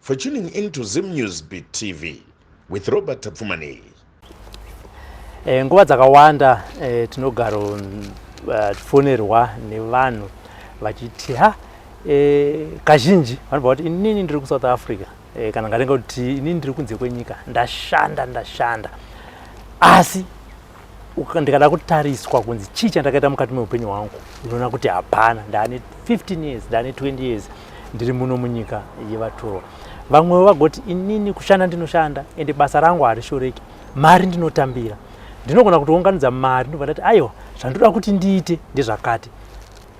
For tuning in to Zim News Beat TV with Robert Tapfumani. Eh, nguva dzakawanda eh, tinogaro eh, fonerwa nevanhu vachiti ha eh, kazhinji vanobva kuti inini ndiri kusouth africa eh, kana ngatenga kuti inini ndiri kunze kwenyika ndashanda ndashanda asi ndikada kutariswa kunzi chii chandakaita mukati meupenyu hwangu unoona kuti hapana ndaane 15 years ndaane 20 years ndiri muno munyika yevatorwa vamwewo vagoti inini kushanda ndinoshanda ende basa rangu harishoreki mari ndinotambira ndinogona kutounganidza mari ndobva ndati aiwa zvandoda kuti ndiite ndezvakati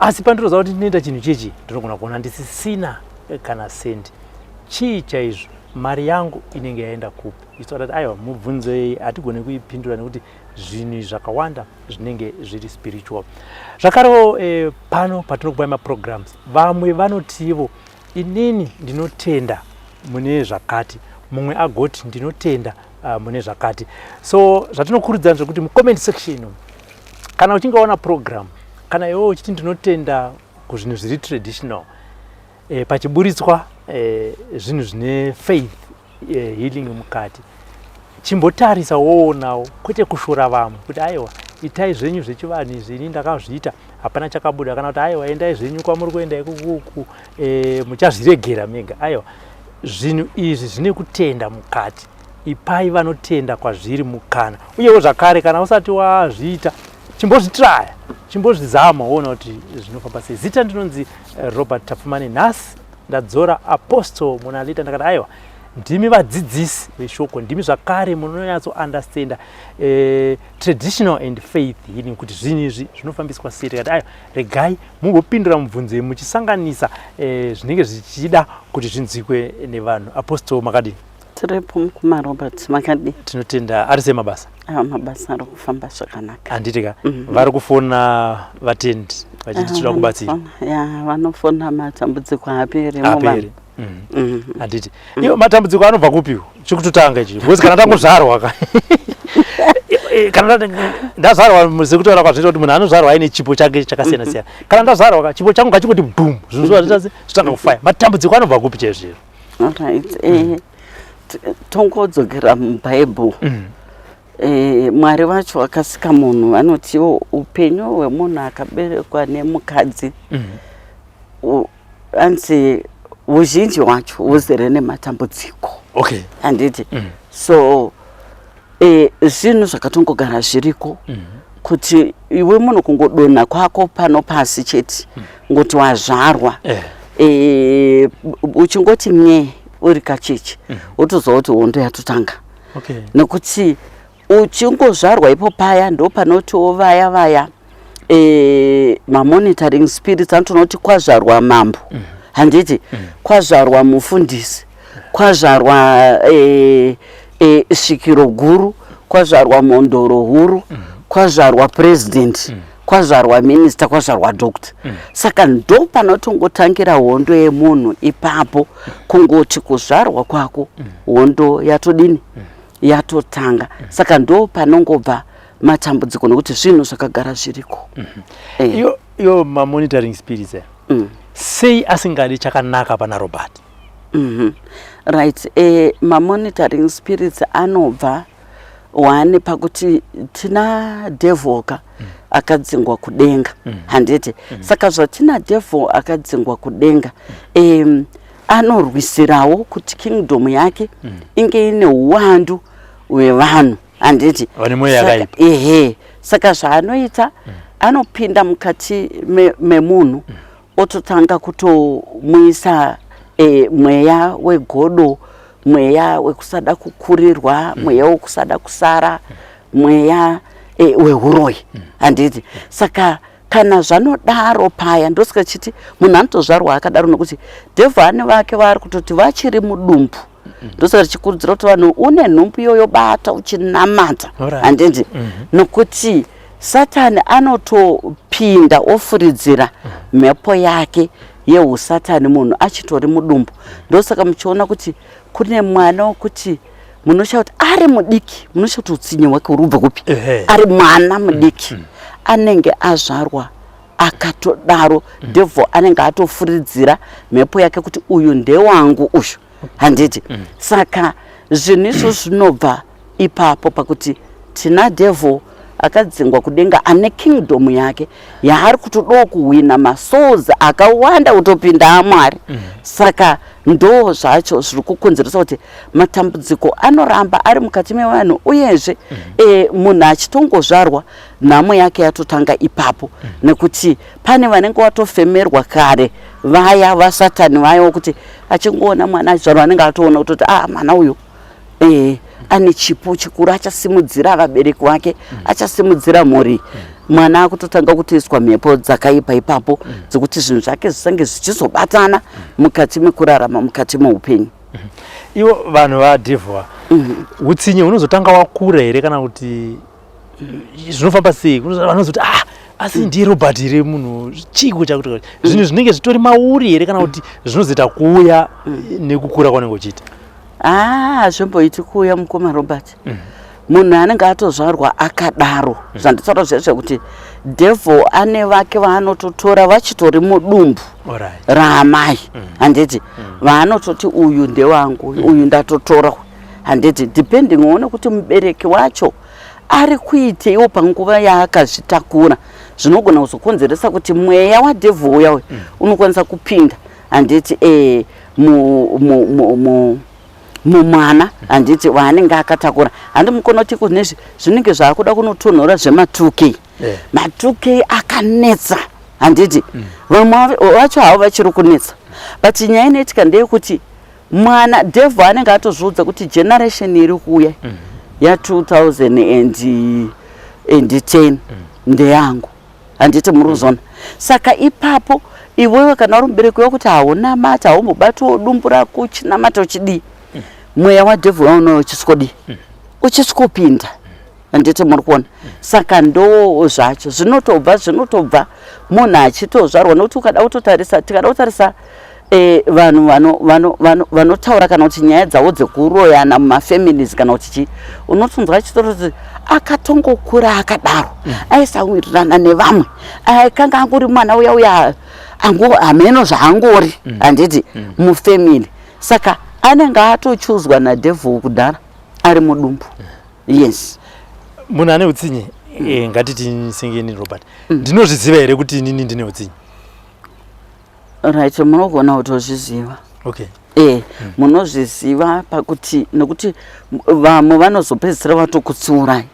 asi pandinoziva kuti ndinoita chinhu chechi ndinogona kuona ndisisina kana sendi chii chaizvo mari yangu inenge yaenda kupi isu atati aiwa mubvunzo iyi hatigone kuipindura nekuti zvinhu zvakawanda zvinenge zviri spiritual zvakarewo eh, pano patinokupai maprograms vamwe vanotivo inini ndinotenda mune zvakati mumwe agoti ndinotenda uh, mune zvakati so zvatinokurudzira zvekuti mucomment section kana uchinge waona program kana iwewo uchiti ndinotenda kuzvinhu zviri traditional e, pachiburitswa e, zvinhu zvine faith eh, healing mukati chimbotarisa woonawo kwete kushora vamwe kuti aiwa itai zvenyu zvechivanhu izvi ini ndakazviita hapana chakabuda kana kuti aiwa endai zvenyu kwamuri kuenda ikukuku e, eh, muchazviregera mega aiwa zvinhu izvi zvine kutenda mukati ipai vanotenda kwazviri mukana uyewo zvakare kana usati wazviita chimbozvitraya chimbozvizama woona kuti zvinofamba sei zita ndinonzi eh, robert tapfumane nhasi ndadzora apostle munalita ndakati aiwa ndimi vadzidzisi veshoko ndimi zvakare munonyatso understanda uh, eh, traditional and faith healing kuti zvinhu izvi zvinofambiswa sei tikati ayo regai mumbopindura mubvunzo iyi muchisanganisa uh, zvinenge zvichida kuti zvinzwikwe nevanhu apostol makadini tiripo mukoma robert makadii tinotenda ari sei mabasa aa mabasa ari kufamba zvakanaka handiti ka Mhm. vari kufona vatendi vachiti tinoda kubatsira Vanofona- ya vanofona matambudziko haaperi aperi muvanhu Mhm. Mhm. handiti iyo matambudziko anobva kupiwo chikutotanga ichi because kana tangozvarwa ka Eh, kana nda- ndazvarwa sekutaura kwazvinoita kuti munhu anozvarwa aine chipo chake chakasiyana siyana kana ndazvarwa ka chipo changu ngachingoti bhum zvinhu zvazvitase zvitanga kufaya matambudziko anobva kupi chaizviro Alright. Eh, t- tongodzokera mubhaibheri Mm. Eh, mwari vacho vakasika munhu vanotiwo upenyu hwemunhu akaberekwa nemukadzi Mm. u- anzi uzhinji hwacho huzere nematambudziko Okay. handiti Mm. so Eh, zvinhu zvakatongogara zviriko mm -hmm. kuti iwe munhu kungodonha kwako pano pasi chete mm -hmm. ngoti wazvarwa eh. Eh, uchingoti nye uri kacheche mm -hmm. wotoziva kuti hondo yatotanga okay. nekuti uchingozvarwa ipo paya ndopanotiwo vaya vaya mm e, mamonitoring spirits anotonoti kwazvarwa mambo mm. handiti mm. kwazvarwa mufundisi kwazvarwa e, e, svikiro guru kwazvarwa mondoro huru mm. kwazvarwa president mm kwazvarwa minista kwazvarwa doctor mm. saka ndo panotongotangira hondo yemunhu ipapo kungoti kuzvarwa kwako mm. hondo yatodini mm. yatotanga mm. saka ndo panongobva matambudziko nokuti zvinhu zvakagara zviriko mm -hmm. eh. yo, yo mamonitoring spirits eh. mm. sei asingadi chakanaka pana robert mm -hmm. right eh, mamonitoring spirits anobva one pakuti tina devil ka mm. akadzingwa kudenga mm. handiti mm. saka zvatina devil akadzingwa kudenga mm. eh, anorwisirawo kuti kingdom yake mm. inge ine uwandu hwevanhu handiti vane mweya yakaipa ehe saka zvaanoita mm. anopinda mukati memunhu me mm. ototanga kutomuisa e, mweya wegodo mweya wekusada kukurirwa mm. mweya wekusada kusara mm. mweya e, wehuroyi mm. handiti mm. saka kana zvanodaro paya ndosika chiti munhu anotozvarwa akadaro nokuti devhani vake vaari kutoti vachiri mudumbu ndosaka tichikurudzira kuti vanhu une nhumbu iyoyo bata uchinamata handindi mhm. nokuti satani anotopinda ofuridzira mhm. mhepo yake yeusatani munhu achitori mudumbu ndosaka muchiona kuti kune mwana wokuti munoshaa kuti ari mudiki munoshaa kuti utsinye hwake huri kubva kupi ari mwana mudiki mhm. anenge azvarwa akatodaro mm. devil anenge atofuridzira mhepo yake kuti uyu ndewangu uyu handiti mm. saka zvinhu izvo zvinobva ipapo pakuti tina devil akadzingwa kudenga ane kingdom yake yaari kutodawo kuhwina masouls akawanda kutopinda amwari mm. saka ndo zvacho zviri kukonzeresa kuti matambudziko anoramba ari mukati mevanhu uyezve mm. e, munhu achitongozvarwa nhamo yake yatotanga ipapo mm. nekuti pane vanenge watofemerwa kare vaya vasatani vaya wokuti achingoona mwana achizvarwa anenge atoona kutoti a ah, mwana uyu e, ane chipo chikuru achasimudzira vabereki vake mm. achasimudzira mhuri mm. mwana akutotanga kutoiswa mhepo dzakaipa ipapo mm. dzekuti zvinhu zvake zvisange zvichizobatana mm. mukati mekurarama mukati meupenyu mm -hmm. ivo vanhu vadhivhwa mm -hmm. utsinye hunozotanga wakura here kana kuti zvinofamba sei vanozoti ah asi hmm. ndiye robert here munhu chiiko chakuta hmm. zvinhu zvinenge zvitori mauri here kana kuti zvinozoita kuuya hmm. nekukura kwanenge uchiita ah, hazvimboiti kuuya mukoma robert munhu anenge atozvarwa akadaro zvanditaura zvese kuti devil ane vake vaanototora vachitori mudumbu raamai handiti vaanototi uyu ndewangu uyu ndatotora handiti depending uone kuti mubereki wacho ari kuiteiwo panguva yaakazvitakura zvinogona kuzokonzeresa kuti mweya wadhevhu uya uyu mm. unokwanisa kupinda handiti e, mumwana handiti waanenge akatakura handi mukonoti kunezvi zvinenge zvaakuda kunotonhora zvema2k eh. ma2k akanetsa handiti mm. vamwe vacho havo vachiri kunetsa but nyaya inoitika ndeyekuti mwana devil anenge atozviudza kuti generation iri kuuya mm. ya 2010 mm. ndeyangu handiti muri kuzona mm. saka ipapo iwewe kana uri mubereki wekuti haunamati haumbobatiwo dumbu rako uchinamata uchidii mm. mweya wadevil waunoyo uchiswodii mm. uchiswopinda handiti muri kuona saka ndoo zvacho zvinotobva zvinotobva munhu achitozvarwa nokuti ukada kutotarisa tikada kutarisa eh, vanhu vanotaura kana kuti nyaya dzavo dzekuroyana mumafamilies kana kuti chii unotonzwa achitoroti akatongokura akadaro mm. aisawirirana nevamwe aikanga angori mwana uya uya hameno zvaangori mm. handiti mm. mufamily saka anenge atochuzwa nadevil kudhara ari mudumbu yes munhu ane utsinye mm. eh, ngatiti sengeni robert mm. ndinozviziva here kuti inini ndine utsinye right munogona kutozviziva okay eh mm. munozviziva pakuti nokuti vamwe vanozopedzisira vatokutsiurai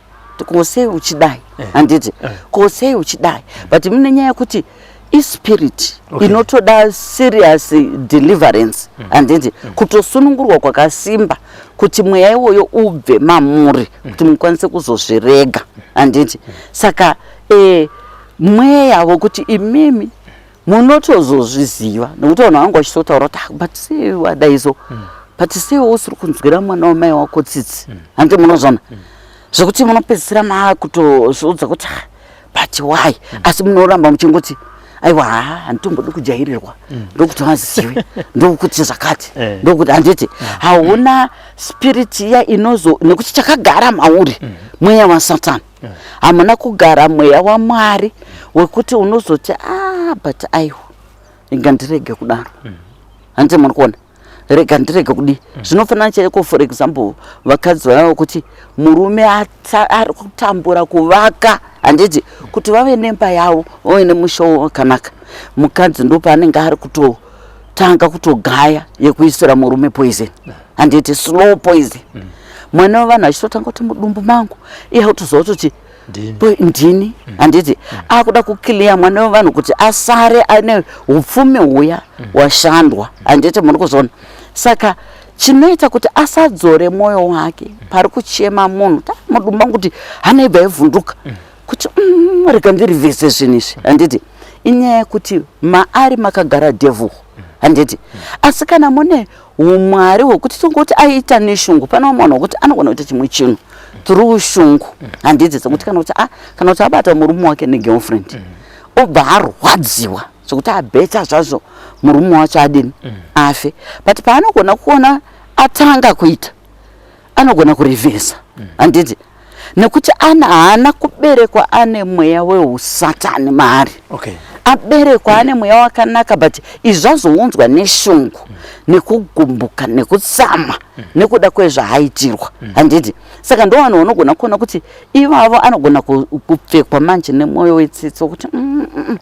kosei uchidai eh. handiti eh. kosei uchidai but mune nyaya yekuti ispirit okay. inotoda serious deliverance mm. handiti mm. mm. kutosunungurwa kwakasimba kuti mweya iwoyo ubve mamuri mm. kuti mukwanise kuzozvirega mm. handiti mm. saka e, mweya wokuti imimi munotozozviziva nokuti vanhu vanga vachitotaura kuti ah, but sei wadaizo mm. but sei usiri kunzwira mwana wamai wako tsitsi mm. handi munozvona mm. zvekuti munopedzisira maakutozviudza kuti ah, but why mm. asi munoramba muchingoti aiwa haa handitombodi kujairirwa mm. ndokuti vazive ndokuti zvakati eh. ndokuti handiti eh. hauna spirit iya inozo nekuti chakagara mauri mm. mweya wasatani eh. hamuna kugara mweya wamwari wekuti unozoti a ah, but aiwa inga ndirege kudaro mm. handiti muri kuona rega ndirege kudii mm. zvinofanana chaiko for example vakadzi vaya vokuti murume ari kutambura kuvaka handiti kuti vave nemba yavo vave nemushowo wakanaka mukadzi ndopaanenge ari kutotanga kutogaya yekuisira murume poison mm. handiti slow poison mm. mwana wevanhu achitotanga kuti mudumbu mangu iye kutozova kuti ndini mm. handiti mm. akuda kuclear mwana wevanhu kuti asare ane upfumi huya mm. washandwa handiti muri kuzona saka chinoita kuti asadzore mwoyo wake pari kuchema munhu tamudumba kuti hana ibva yevhunduka kuti rega ndiri vese zvinhu izvi handiti inyaya yekuti maari makagara devhu handiti asi kana mune humwari hwekuti tingoti aiita neshungu pane vamwe vanhu vekuti anogona kuita chimwe chinhu through shungu handidzi dzekuti kana kuti ah, kana kuti abata murume wake negirlfriend mm. obva arwadziwa zvekuti abeta zvazvo murume wacho adini mm. afe but paanogona kuona atanga kuita anogona kurivhesa handiti mm. nekuti ana haana kuberekwa ane mweya weusatani maari okay. aberekwa mm. ane mweya wakanaka but izvazounzwa neshungu mm. nekugumbuka nekutsama mm. nekuda kwezvaaitirwa mm. handiti saka ndo vanhu vanogona kuona kuti ivavo anogona kupfekwa manje nemwoyo wetsitsi wekuti mm, mm, mm, mm.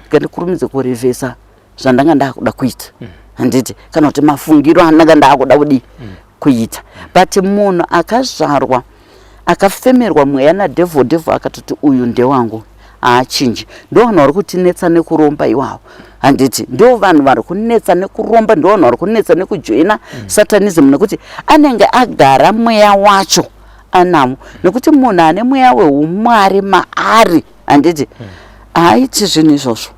ngandikurumidze kurivhesa zvandanga ndakuda kuita mm. handiti kana kuti mafungiro andanga ndakuda kudii mm. kuita but munhu akazvarwa akafemerwa mweya nadevil devil akatoti uyu ndewangu haachinji ndovanhu vari kutinetsa nekuromba iwawo handiti ndo vanhu vari kunetsa nekuromba ndo vanhu vari kunetsa nekujoina mm. satanism nekuti anenge agara mweya wacho anamo nekuti munhu ane mweya weumwari maari handiti mm. haaiti zvinhu izvozvo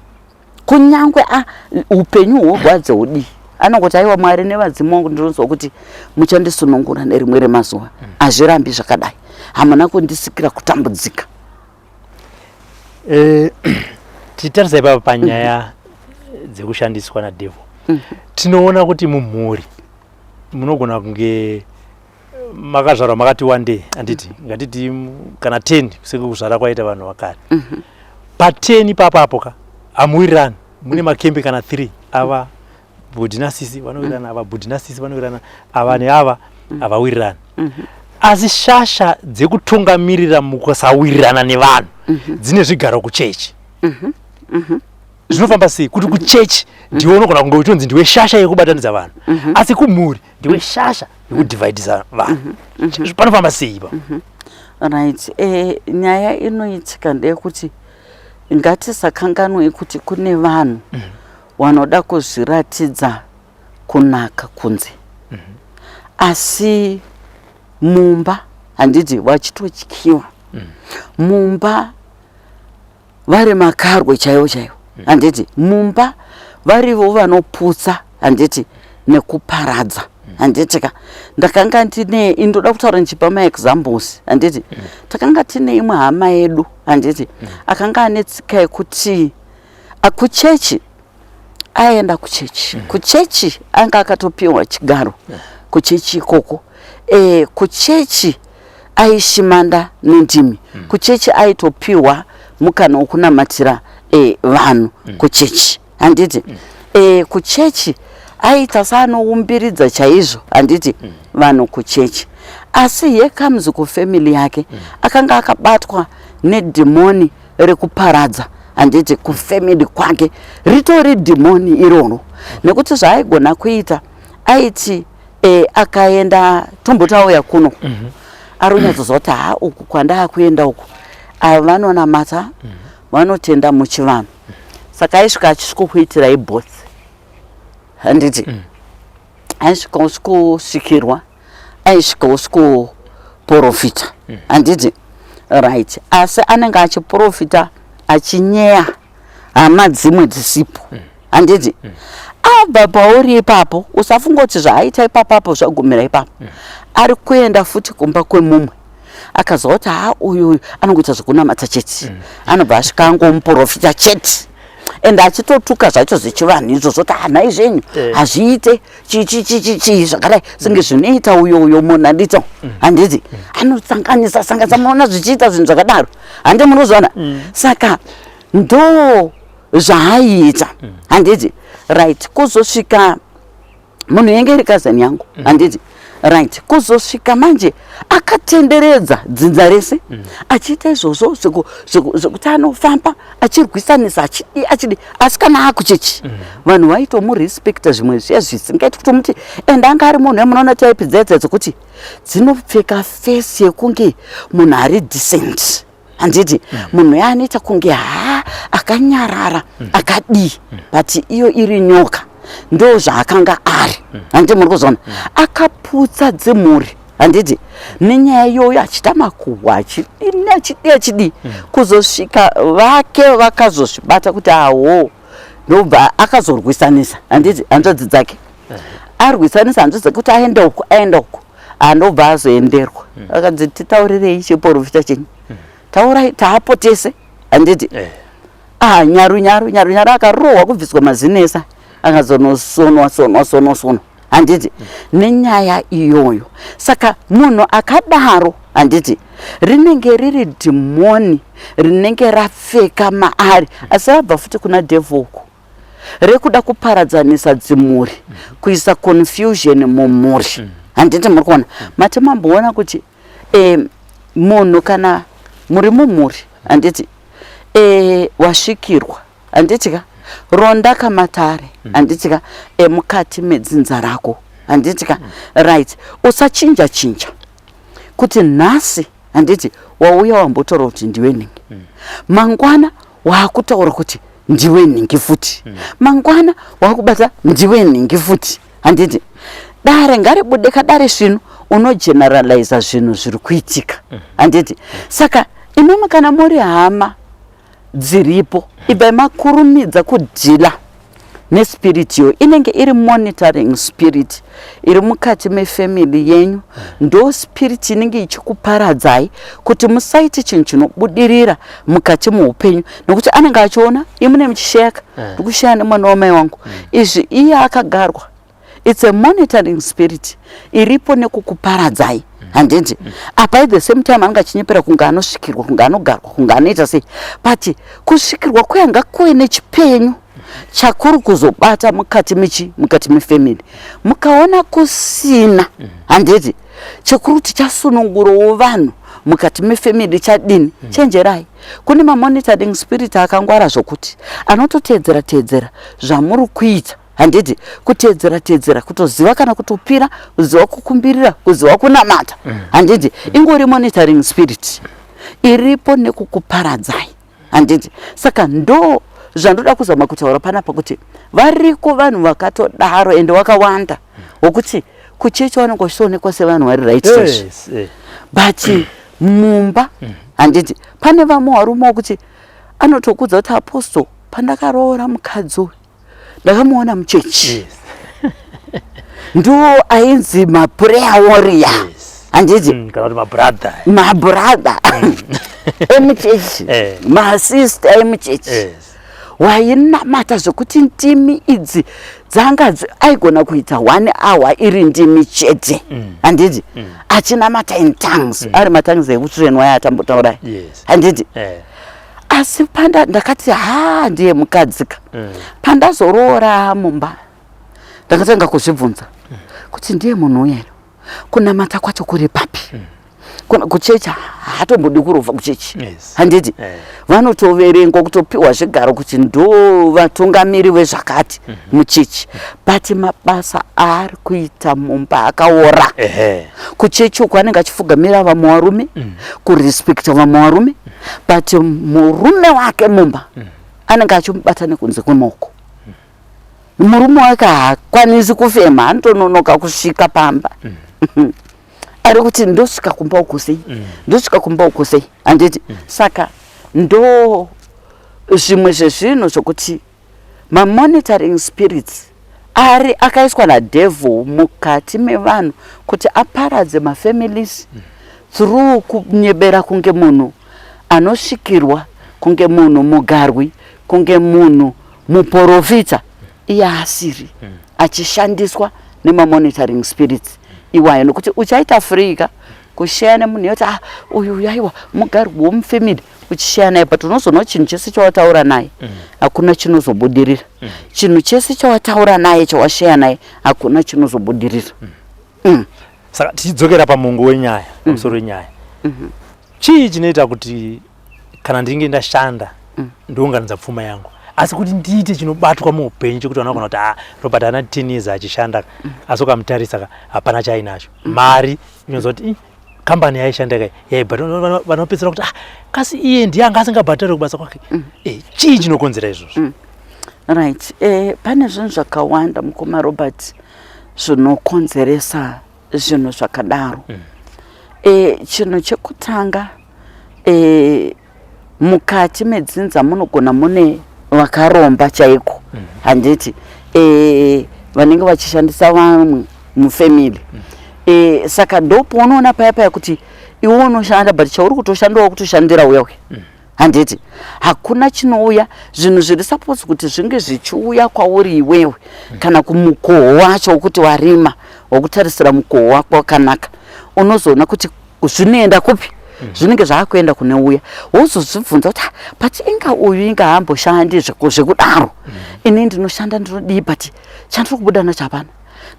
kunyangwe a upenyu hworwadzo hudii anongoti aiwa mwari nevadzimu wangu ndinonzwa kuti muchandisunungura nerimwe remazuva mm. hazvirambi zvakadai hamuna kundisikira kutambudzika eh, titarisa ipapa panyaya mm-hmm. dzekushandiswa nadevil mm-hmm. tinoona kuti mumhuri munogona kunge makazvarwa makati one day anditi mm -hmm. ngatiti kana 10 kusenge kuzvara kwaita vanhu vakare mm -hmm. pa 10 ipapo apo ka amuwirirani mune mm. makembe kana 3 ava bhudhi nasisi vanowirirana mm. ava bhudhi nasisi vanowirirana ava neava mm. havawirirani mm -hmm. asi shasha dzekutungamirira mukusawirirana nevanhu mm -hmm. dzine zvigaro kuchechi mm -hmm. mm -hmm zvinofamba sei kuti kuchechi ndiwe unogona kunge uchitonzi ndiwe shasha yekubatanidza vanhu mhm. asi kumhuri ndiwe shasha yekudivhaidhisa vanhu mm -hmm. mm -hmm. panofamba sei ipa mm -hmm. right eh, nyaya inoitika ndeyekuti ngatisakanganwei kuti kune vanhu mm -hmm. wanoda kuzviratidza kunaka kunze mm -hmm. asi mumba handiti vachitotyiwa mm -hmm. mumba vari makarwe chaivo chaivo mm. handiti mumba varivo vanoputsa handiti nekuparadza mm. handiti ka ndakanga ndine indoda kutaura ndichipa maexamples handiti mm. takanga tine imwe hama yedu handiti akanga ane tsika yekuti akuchechi aienda kuchechi mm. kuchechi anga akatopiwa chigaro mm. kuchechi ikoko e, kuchechi aishimanda nendimi mm. kuchechi aitopiwa mukana wokunamatira e, vanhu mm. kuchechi handiti mm. e, kuchechi aita saanoumbiridza chaizvo handiti mm. vanhu kuchechi asi here comes kufamily yake mm. akanga akabatwa nedhimoni rekuparadza handiti kufamily kwake ritori dhimoni iroro nekuti zvaaigona kuita aiti e, akaenda tombotauya kuno mm -hmm. aronyatsoziva kuti ha uku kwandaakuenda uku ava vanonamata mm -hmm. vanotenda muchivanhu saka aisvika achisvikokuitirai both handiti mm -hmm. aisvika usikosvikirwa aisvika usikoporofita mm. handiti right asi anenge achiporofita achinyeya hama dzimwe dzisipo mm. handiti mm. abva pauri ipapo usafungoti zvaaita ipapapo zvagumira ipapo mm. ari kuenda futi kumba kwemumwe akaziva kuti haa uyu uyu anongoita zvekunamata chete mm. anobva asvika angomuprofita chete and achitotuka zvacho zvechivanhu izvo zvoti hanhai zvenyu eh. hazviite chichichichichii zvakadai senge mm. zvinoita uyo uyo munhu andito mm. handiti mm. anosanganisa sanganisa munoona zvichiita zvinhu zvakadaro handi munozviona saka ndo zvaaiita handiti right kuzosvika munhu yenge iri kazani yangu mm. handiti mm -hmm right kuzosvika manje akatenderedza dzinza rese mm. achiita izvozvo zvekuti anofamba achirwisanisa achidi achidi asi kana akuchechi mm. vanhu vaitomurespecta zvimwe zviya zvisingaiti kuti muti and anga ari munhu emunoona type dzaedza dzekuti dzinopfeka fesi yekunge munhu ari decent handiti mm. munhu mm. yaanoita kunge haa akanyarara mm. akadii mm. but iyo iri nyoka ndo zvaakanga ari mm. handiti muri kuzoona mm. akaputsa dzimhuri handiti nenyaya iyoyo achita makuhwa achidini achidii achidii mm. kuzosvika vake vakazozvibata kuti awo ndobva akazorwisanisa handiti hanzvadzi dzake mm. arwisanisa hanzvadzi dzake kuti aenda uku aenda uku andobva ah, azoenderwa mm. akanzi titaurirei chiporofita chenyu mm. taurai taapo tese handiti eh. ah nyaru nyaru nyaru nyaru akarohwa kubviswa mazinesa akazonosonwa sonwa sonwa sonwa handiti mm. nenyaya iyoyo saka munhu akadaro handiti rinenge riri dhimoni rinenge rapfeka maari asi abva futi kuna devhoku rekuda kuparadzanisa dzimhuri mm -hmm. kuisa confusion mumhuri mm -hmm. handiti muri kuona mm -hmm. mati mamboona kuti e, munhu kana muri mumhuri handiti e, wasvikirwa handiti ka ronda kamatare mm. handiti ka e, mukati medzinza rako handiti ka mm. right usachinja chinja kuti nhasi handiti wauya wambotora kuti ndiwe nhingi mm. mangwana wakutaura kuti ndiwe nhingi futi mm. mangwana wakubata ndiwe nhingi futi handiti dare ngaribude kadare svinu unogeneraliza zvinhu zviri kuitika mm. handiti mm. saka imimi kana muri hama dziripo ibvai makurumidza kudhila nespirit yo inenge iri monitoring spirit iri mukati mefamily yenyu ndo spirit inenge ichikuparadzai kuti musaite chinhu chinobudirira mukati muupenyu nekuti anenge achiona imune muchisheka eh. ndikushaya nemwana wamai wangu hmm. izvi iye akagarwa it's a monitoring spirit iripo nekukuparadzai handiti apa at the same time anenge achinyepera kunge anosvikirwa kunge anogarwa kunge anoita sei but kusvikirwa kuyanga kuve nechipenyu chakuri kuzobata mukati michi mukati mefamily mukaona kusina handiti chekuri kuti chasunungurowo vanhu mukati mefamily chadini mm. chenjerai kune mamonitoring spirit akangwara zvokuti anototeedzera teedzera zvamuri kuita handiti kuteedzera teedzera kutoziva kana kutopira kuziva kukumbirira kuziva kunamata mm. handiti ingori monitoring spirit iripo nekukuparadzai handiti saka ndo zvandoda kuzama kutaura panapa kuti variko vanhu vakatodaro ende wakawanda wokuti kuchechi vanenge vachitoonekwa sevanhu vari right yes, eh. but mm. mumba mm. handiti pane vamwe varume wokuti anotokudza kuti apostle pandakaroora mukadzi uyu ndakamuona muchechi ndo ainzi mapureya woriya handiti mm, kana kuti mabrather mabrather mm. emuchechi eh. masista emuchechi wainamata zvekuti ndimi idzi dzanga aigona kuita one hour iri ndimi chete mm. handiti achinamata in tongues ari matongues ekutsvenwa yaatambotaurai handiti eh. asi panda ndakati haa ndiye mukadzika mm. pandazoroora mumba ndakatanga kuzvibvunza mm. kuti ndiye munhu uyero kunamata kwacho kuri papi mm. kuna kuchechi haatombodi kurova kuchechi yes. handiti yeah. vanotoverengwa kutopiwa zvigaro kuti ndo vatungamiri vezvakati mm -hmm. muchechi but mabasa aari kuita mumba akaora kuchechi uko anenge achifugamira vamwe varume mm. kurespekta vamwe varume mm. but murume wake mumba mm. anenge achimubata nekunze kwemoko mm. murume wake haakwanisi kufema anotononoka kusvika pamba mm. ari kuti ndosvika kumba uko sei mm. ndosvika kumba uko sei handiti mm. saka ndo zvimwe zvezvinhu zvokuti Ma monitoring spirits ari akaiswa na devil mukati mevanhu kuti aparadze ma families mm. through kunyebera kunge munhu anosvikirwa kunge munhu mugarwi kunge munhu muporofita iye asiri mm. achishandiswa nema monitoring spirits iwayo nokuti uchaita free ka kushaya nemunhu yoti ah uyu yaiwa mugarwi womufamily uchishaya naye but unozoona kuti chinhu chese chawataura naye mm. hakuna chinozobudirira mm. chinhu chese chawataura naye chawashaya naye hakuna chinozobudirira mm. saka tichidzokera pamungu wenyaya pamusoro wenyaya mm-hmm. chii chinoita kuti kana ndinge ndashanda ndounganidza pfuma yangu asi kuti ndiite chinobatwa muupenyu chekuti vanogona kuti ah, robert ana ten years achishanda asi ukamutarisa hapana chaainacho mari inonzwa kuti kambani yaishanda kai yaibhadhara vanopedzisira kuti ah, kasi iye ndiye anga asingabhadhare kubasa kwake mm. eh, chii chinokonzera izvozvo mm. right eh, pane zvinhu zvakawanda mukoma robert zvinokonzeresa zvinhu zvakadaro mm. eh, chinhu chekutanga eh, mukati medzinza munogona mune vakaromba chaiko mhm. handiti eh, vanenge vachishandisa vamwe mufamily mhm. eh, saka ndopo unoona paya paya kuti iwe unoshanda but chauri kutoshandawo kutoshandira uya uya mhm. handiti hakuna chinouya zvinhu zviri suppose kuti zvinge zvichiuya kwauri iwewe kana kumukoho wacho wokuti warima wokutarisira mukoho wako wakanaka unozoona kuti zvinoenda kupi mm. zvinenge zvaakuenda kune uya wozozvibvunza kuti but inga uyu inga hamboshandi zvekudaro mm. ini ndinoshanda ndinodii but chandiri kubuda nacho hapana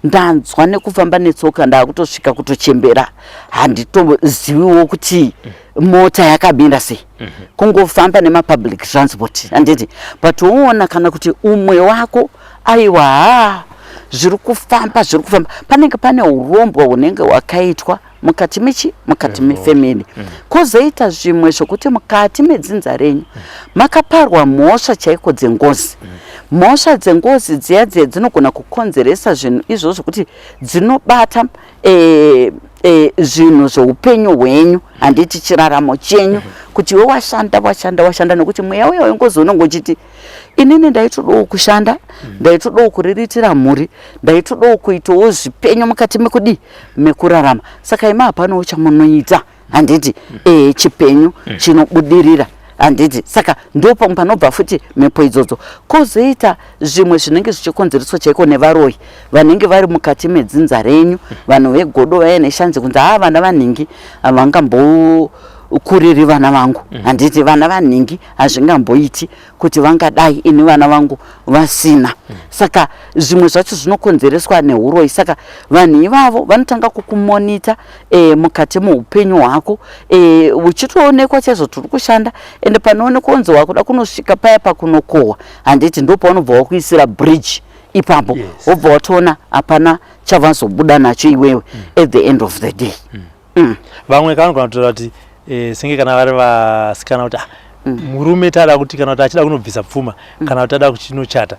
ndanzwa nekufamba netsoka ndakutosvika kutochembera handitoziviwo kuti mm. mota yakamira sei mm -hmm. kungofamba nemapublic transport handiti but woona kana kuti umwe wako aiwa haa zviri kufamba zviri kufamba panenge pane urombwa hunenge hwakaitwa mukati mechi mukati mefamily mm. kozoita zvimwe zvokuti mukati medzinza renyu mm. makaparwa mhosva chaiko dzengozi mm. mhosva dzengozi dziya dziya dzinogona kukonzeresa zvinhu izvo zvokuti dzinobata eh, eh, zvinhu zveupenyu hwenyu handiti chiraramo chenyu mm-hmm. kuti iwe washanda washanda washanda nokuti mweya uya wengozi unongochiti inini ndaitodawo kushanda mm. ndaitodawo kuriritira mhuri ndaitodawo kuitawo zvipenyu mukati mekudii mekurarama saka ima hapanawo chamunoita handiti mm. ee chipenyu mm. chinobudirira handiti saka ndo pamwe panobva futi mhepo idzodzo kozoita zvimwe zvinenge zvichikonzereswa chaiko nevaroyi vanenge vari mukati medzinza renyu vanhu vegodo vaya neshanje kunzi haa vana vanhingi havangambo kuriri vana vangu mm. handiti vana vanhingi hazvingamboiti kuti vangadai ini vana vangu vasina saka zvimwe zvacho zvinokonzereswa neuroyi saka vanhu ivavo vanotanga kukumonita e, mukati meupenyu hwako e, uchitoonekwa chaizvo tiri kushanda ende panoonekwa unzi wakuda kunosvika paya pakunokohwa handiti ndo paunobva wakuisira bridge ipapo wobva yes. watoona hapana chavazobuda nacho iwewe mm. at the end of the day mm. mm. vamwe kanogona kutora kuti e, senge kana vari vasikana kuti ah, mm. murume tada kuti kana kuti achida kunobvisa pfuma mm. kana kuti ada kuchinochata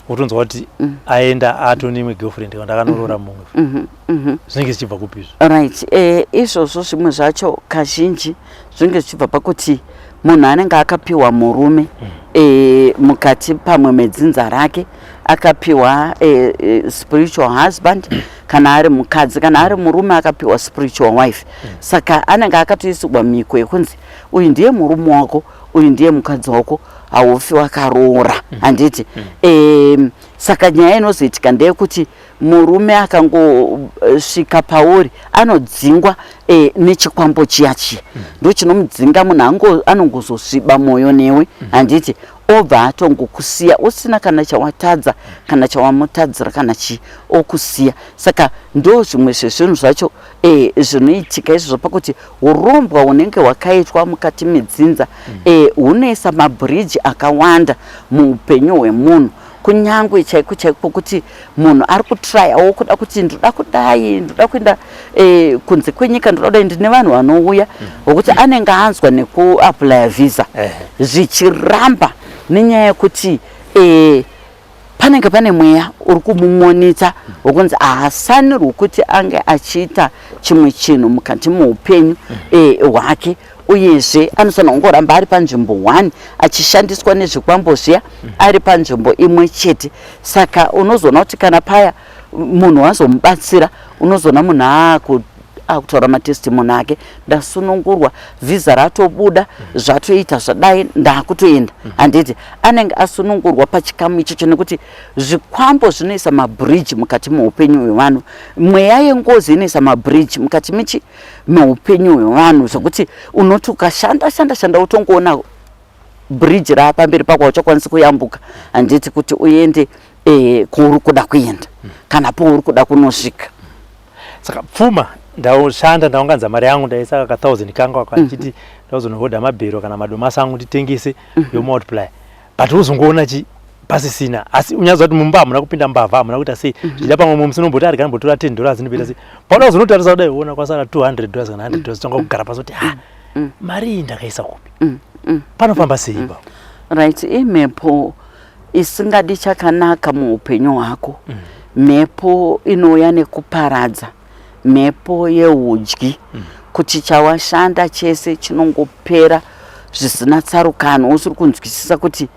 wotonzwa kuti mm. aenda ato neimwe girlfriend kana ndakanorora mm-hmm. mumwe mm-hmm. mm-hmm. zvinenge zvichibva kupi izvo right eh, izvozvo zvimwe zvacho kazhinji zvinenge zvichibva pakuti munhu anenge akapiwa murume mm. eh, mukati pamwe medzinza rake akapiwa eh, spiritual husband kana ari mukadzi kana ari murume akapiwa spiritual wife mm. saka anenge akatoisirwa miko yekunzi uyu ndiye murume wako uyu ndiye mukadzi wako haufi wakaroora mm. handiti mm. um, saka nyaya inozoitika ndeyekuti murume akangosvika eh, pauri anodzingwa e, nechikwambo chiya chiya mm. ndochinomudzinga munhu anongozosviba mwoyo newe mm. handiti obva atongokusiya usina kana chawatadza kana chawamutadzira kana chii okusiya saka ndo zvimwe zvezvinhu zvacho e, zvinoitika izvo zvapakuti urombwa hunenge hwakaitwa mukati medzinza e, hunoisa mabhiriji akawanda muupenyu hwemunhu kunyangwe chaiko chaiko pokuti munhu ari kutryawo kuda kuti ndoda kudai ndoda kuenda eh, kunze kwenyika ndoda kudai ndine vanhu vanouya vokuti mm. anenge anzwa nekuaplya visa zvichiramba nenyaya yekuti eh, panenge pane mweya uri kumumonita wokunzi ahasanirwi kuti ange achiita chimwe chinhu mukati moupenyu mm. eh, hwake uyezve anofanirwa kungoramba ari panzvimbo one achishandiswa nezvikwambo zviya mm. ari panzvimbo imwe chete saka unozoona kuti kana paya munhu wazomubatsira unozoona munhu aaku akutaura matestimony ake ndasunungurwa vhiza ratobuda zvatoita zvadai ndakutoenda handiti anenge asunungurwa pachikamu ichocho nekuti zvikwambo zvinoisa mabridge mukati meupenyu hwevanhu mweya yengozi inoisa mabridge mukati michi noupenyu hwevanhu zvekuti unoti ukashanda shanda shanda utongoona bridge raapamberi pako hauchakwanisi kuyambuka handiti kuti uende eh, kwauri kuda kuenda kana pauri kuda kunosvika saka pfuma ndaushanda ndaunganza mari yangu ndaisa ka thousand kangu ako achiti mhm. ndauzonohodha mabhero kana madomasi angu nditengese mhm. yomultiply but wozongoona chi pasisina asi unyazi wati mumba hamuna kupinda mbavha hamuna kuita sei mhm. zvichida pamwe mumwe musi unomboti arikani mbotora 10 dollars ndipita sei paona uzonotarisa kudai uona kwasara 200 dollars kana 100 dollars tanga kugara pasi kuti ha mm. mari iyi ndakaisa kupi mm, mm, panofamba sei ipapo right imhepo isingadi chakanaka muupenyu hwako mhepo inouya nekuparadza mhepo yeudyi mm. kuti chawashanda chese chinongopera zvisina tsarukano usiri kunzwisisa kuti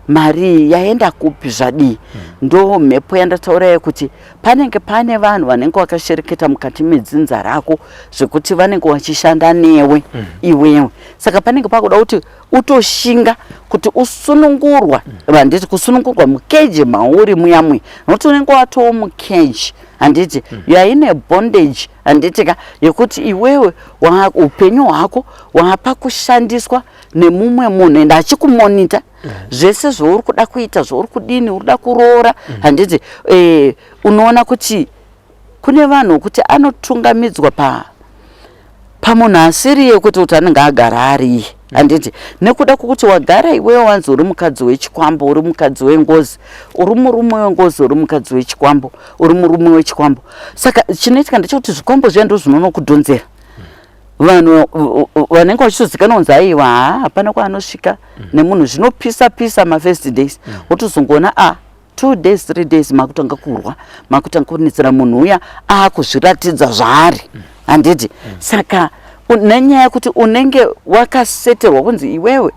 mari yaenda kupi zvadii mm. ndo mhepo yandataura yekuti panenge pane vanhu vanenge vakashereketa mukati medzinza rako zvekuti vanenge vachishanda newe mm. iwewe saka panenge pakuda kuti utoshinga kuti usunungurwa handiti kusunungurwa mukeji mauri muyamwe nokuti unenge watowo mukeji handiti mm. you are in a bondage handiti ka yekuti iwewe upenyu hwako waapa kushandiswa nemumwe munhu ende achikumonita mm. zvese zvauri kuda kuita zvauri kudini uri kuda kuroora mm. handiti eh, unoona kuti Kune vanhu vokuti anotungamidzwa pa pamunhu asiriye kuti kuti anenge agara ariye handiti nekuda kwokuti wagara iwewe wanzi uri mukadzi wechikwambo uri mukadzi wengozi uri murume wengozi uri mukadzi wechikwambo uri murume wechikwambo saka chinoitika ndechekuti zvikwambo zviya ndo zvinonokudhonzera vanhu vanenge vachitozikanwa kunzi aiwa haa hapana kwaanosvika mm. nemunhu zvinopisa pisa mafirst days mm. wotozongoona a ah, two days three days makutanga kurwa makutanga kunetsera munhu uya akuzviratidza zvaari mm. handiti mm. saka nenyaya yekuti unenge wakaseterwa kunzi iwewe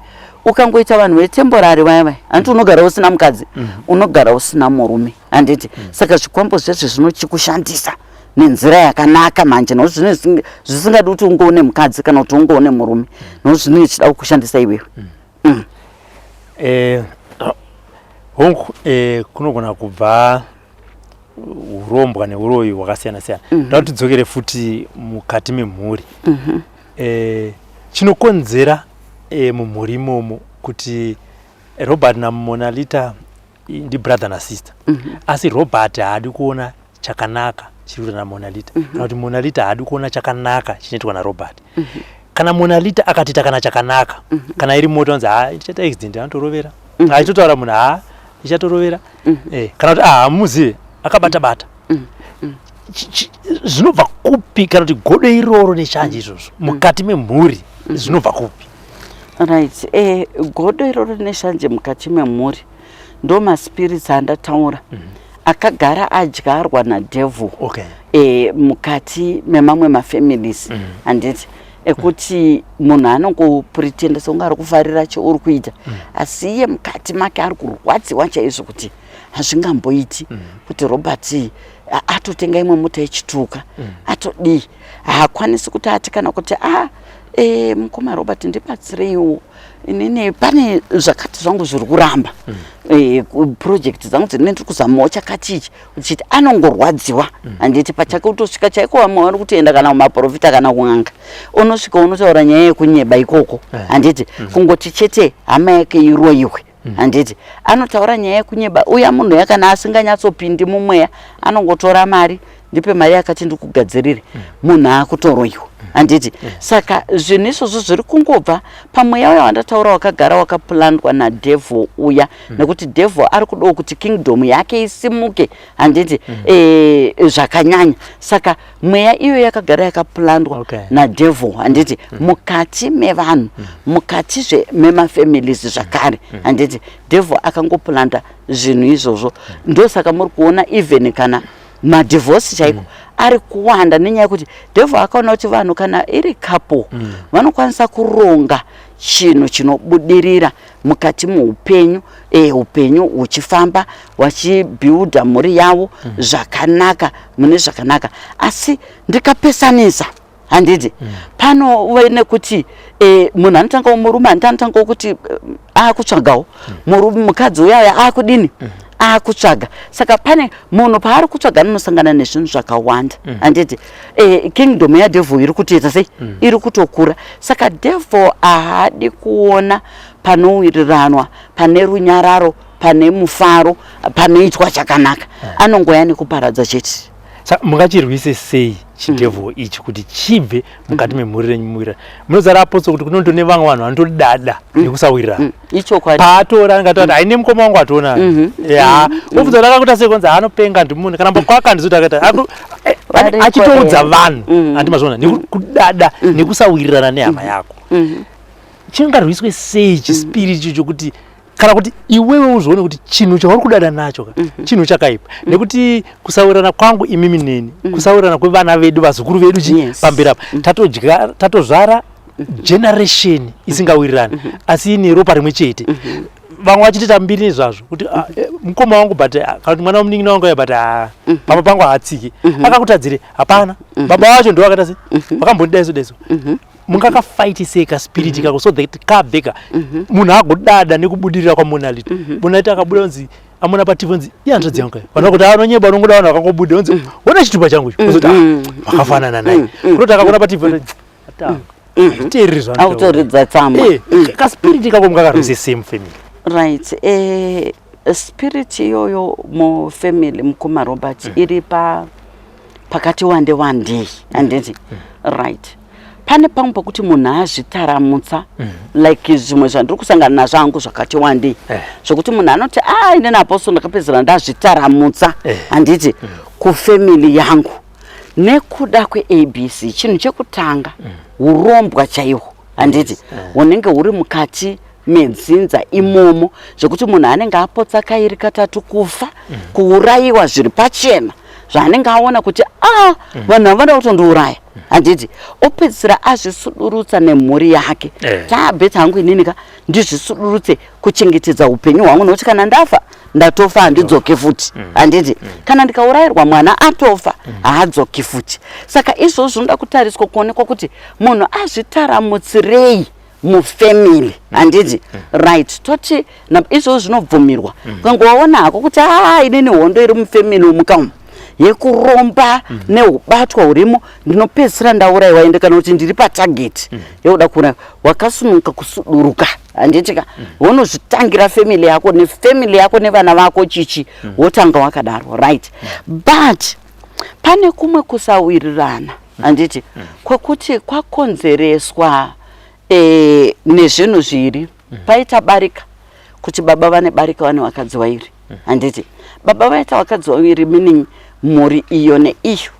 ukangoita vanhu vetemborari vaya vaya handiti unogara usina mukadzi mm. unogara usina murume handiti mm. saka zvikwambo zvese zvinochikushandisa nenzira yakanaka manje no zvine zvisingadi kuti ungoone mukadzi kana kuti ungoone murume no zvine chida kukushandisa iwewe mm. mm. eh, hongu eh, kunogona kubva urombwa neuroyi hwakasiyana siyana mm -hmm. tauti dzokere futi mukati memhuri mm -hmm. eh, chinokonzera eh, mumhuri imomo kuti robert namonalita ndibrother nasister mm -hmm. asi robert haadi kuona chakanaka chiri kuitwa namonalita mm -hmm. kana kuti monalita haadi kuona chakanaka chinoitwa narobert mm -hmm. kana monalita akatiita kana chakanaka mm -hmm. kana iri moto anzi haa ichaita accident anotorovera mm -hmm. achitotaura munhu haa ichatorovera mm -hmm. eh, kana kuti ahamuzive ah, akabata bata mm -hmm zvinobva kupi kana kuti godo iroro neshanje izvozvo mm. mukati memhuri mm. zvinobva kupi right eh, godo iroro neshanje mukati memhuri ndo maspirits andataura mm -hmm. akagara adyarwa nadevil okay. e, mukati memamwe mafamilies mm -hmm. handiti ekuti munhu anongopretenda sekunge ari kufarira cheuri kuita mm. asi iye mukati make ari kurwadziwa chaizvo kuti hazvingamboiti mm. kuti robert atotenga imwe mota yechituka mm. atodii haakwanisi kuti ati kana kuti a ah, e, mukoma robert ndibatsireiwo inini pane zvakati zvangu zviri kuramba mm. e, eh, project dzangu dzine ndiri kuzamawo chakati ichi uchiti anongorwadziwa mm. handiti mm. pachake utosvika chaiko vamwe vari kutoenda kana kumaprofita kana kun'anga unosvika unotaura nyaya yekunyeba ikoko eh. handiti mm. kungoti chete hama yake iroyiwe Mm. handiti anotaura nyaya yekunyeba uya munhu ya kana asinganyatsopindi mumweya anongotora mari ndipe mari yakati ndikugadzirire mm. munhu akutoroiwa mm. handiti saka zvinhu izvozvo zviri kungobva pamweya uya wandataura wakagara wakaplandwa nadevil uya nekuti devil ari kudawo kuti kingdom yake isimuke handiti eh, zvakanyanya saka mweya iyo yakagara yakaplandwa okay. nadevil handiti mm. mm. mukati mevanhu mm. mukatizve memafamilies zvakare mm. mm. handiti devil akangoplanda zvinhu izvozvo mm. ndosaka muri kuona even kana madivhosi chaiko mm. ari kuwanda nenyaya yekuti devil akaona kuti vanhu kana iri couple mm. vanokwanisa kuronga chinhu chinobudirira mukati muupenyu e, upenyu uchifamba wachibuilda mhuri yavo mm. zvakanaka mune zvakanaka asi ndikapesanisa handidi mm. pano uve nekuti e, munhu anotangawo murume handi anotangawo kuti eh, akutsvagawo mm. murume mukadzi uyauya akudini mm. akutsvaga saka pane munhu paari kutsvaga anosangana nezvinhu zvakawanda handidi mm. eh, kingdom yadevil iri kutoita sei mm. iri kutokura saka devil ahadi kuona panowiriranwa pane runyararo pane mufaro panoitwa chakanaka yeah. anongoya nekuparadza chete sa mungachirwise sei chidevil mm. ichi kuti chibve mukati mm. memhuri renyu muwira munozara apotso kuti kunoto nevamwe vanhu vanotodada mm. nekusawirirana mm. ichokwadi paatora anga tati haine mukoma wangu atoona mhm. ya mhm. obvunza kuti akakuta sei konzi anopenga ndimune kana mbakwaka handizoti akaita eh, achitoudza vanhu mhm. handi mazviona nekudada nekusawirirana nehama yako chingarwiswe sei chispiri icho chokuti kana kuti iwewe uzvione kuti chinhu chauri kudada nacho ka chinhu chakaipa nekuti kusawirirana kwangu imimi neni kusawirirana kwevana vedu vazukuru vedu chii pamberi apa tatozvara generation isingawirirani mm -hmm. asi ine ropa rimwe chete mm -hmm. vamwe vachitoita mbiri nezvazvo kuti ah, mhm. eh, mukoma wangu but ah, kana kuti mwana wamunin'ina wangu ya but ah, mhm. pamba pangu haatsiki mhm. akakutadzire hapana baba wacho ndo vakata se vakambondida iso daiso mungakafaitisei kaspiriti kako so that kabveka munhu agodada nekubudirira kwamonality monality akabuda kunzi amona pativ nzi ihanzvadzi yangu vanoda kuti anonyeba unongoda vanhu vakangobuda unzi wona chitupa changu icho ozoti vakafanana naye kutoti akaona pativ autoridza tsamba eh, eh, kaspirit ikako mukakarise same family right eh, spirit iyoyo mufamily mukoma robert mm. iri pa pakati wande wandei anditi mm. mm. right pane pamwe pokuti munhu azvitaramutsa mm. like zvimwe zvandiri kusangana nazvo angu zvakati wandei eh. zvokuti munhu anoti a ah, inini apostle ndakapedzera ndazvitaramutsa eh. handiti mm. kufamily yangu nekuda kweabc chinhu chekutanga mm. urombwa chaihwo handiti yes. Eh. unenge uri mukati medzinza imomo zvekuti munhu anenge apotsa kairi katatu kufa mm. kuurayiwa zviri pachena zvaanenge aona kuti a ah, mm. vanhu havada kutondiuraya mm. handiti opedzisira azvisudurutsa nemhuri yake eh. taabet hangu inini ka ndizvisudurutse kuchengetedza upenyu hwangu nokuti kana ndafa ndatofa handidzoke futi mm. handiti mm. kana ndikaurayirwa mwana atofa mm. haadzoki futi saka izvozvo zvinoda kutariswa kuonekwa kuti munhu azvitaramutsirei mufamily handiti right toti izvozvo zvinobvumirwa kangowaona hako kuti aa inini hondo iri mufamily umukaumu yekuromba mm. neubatwa hurimo ndinopedzisira ndauraiwa ende kana kuti ndiri patageti mm. yekuda kuuraiwa wakasunuka kusuduruka handitika mm. wonozvitangira family yako nefamily yako nevana vako chichi mm. wotanga wakadaro right mm. but pane kumwe kusawirirana mm. handiti mm. kwekuti kwakonzereswa eh, nezvinhu zviri mm. paita barika kuti baba vane barika vane vakadzi wairi mm. handiti baba vaita vakadzi wairi meaning mhuri iyo neiyo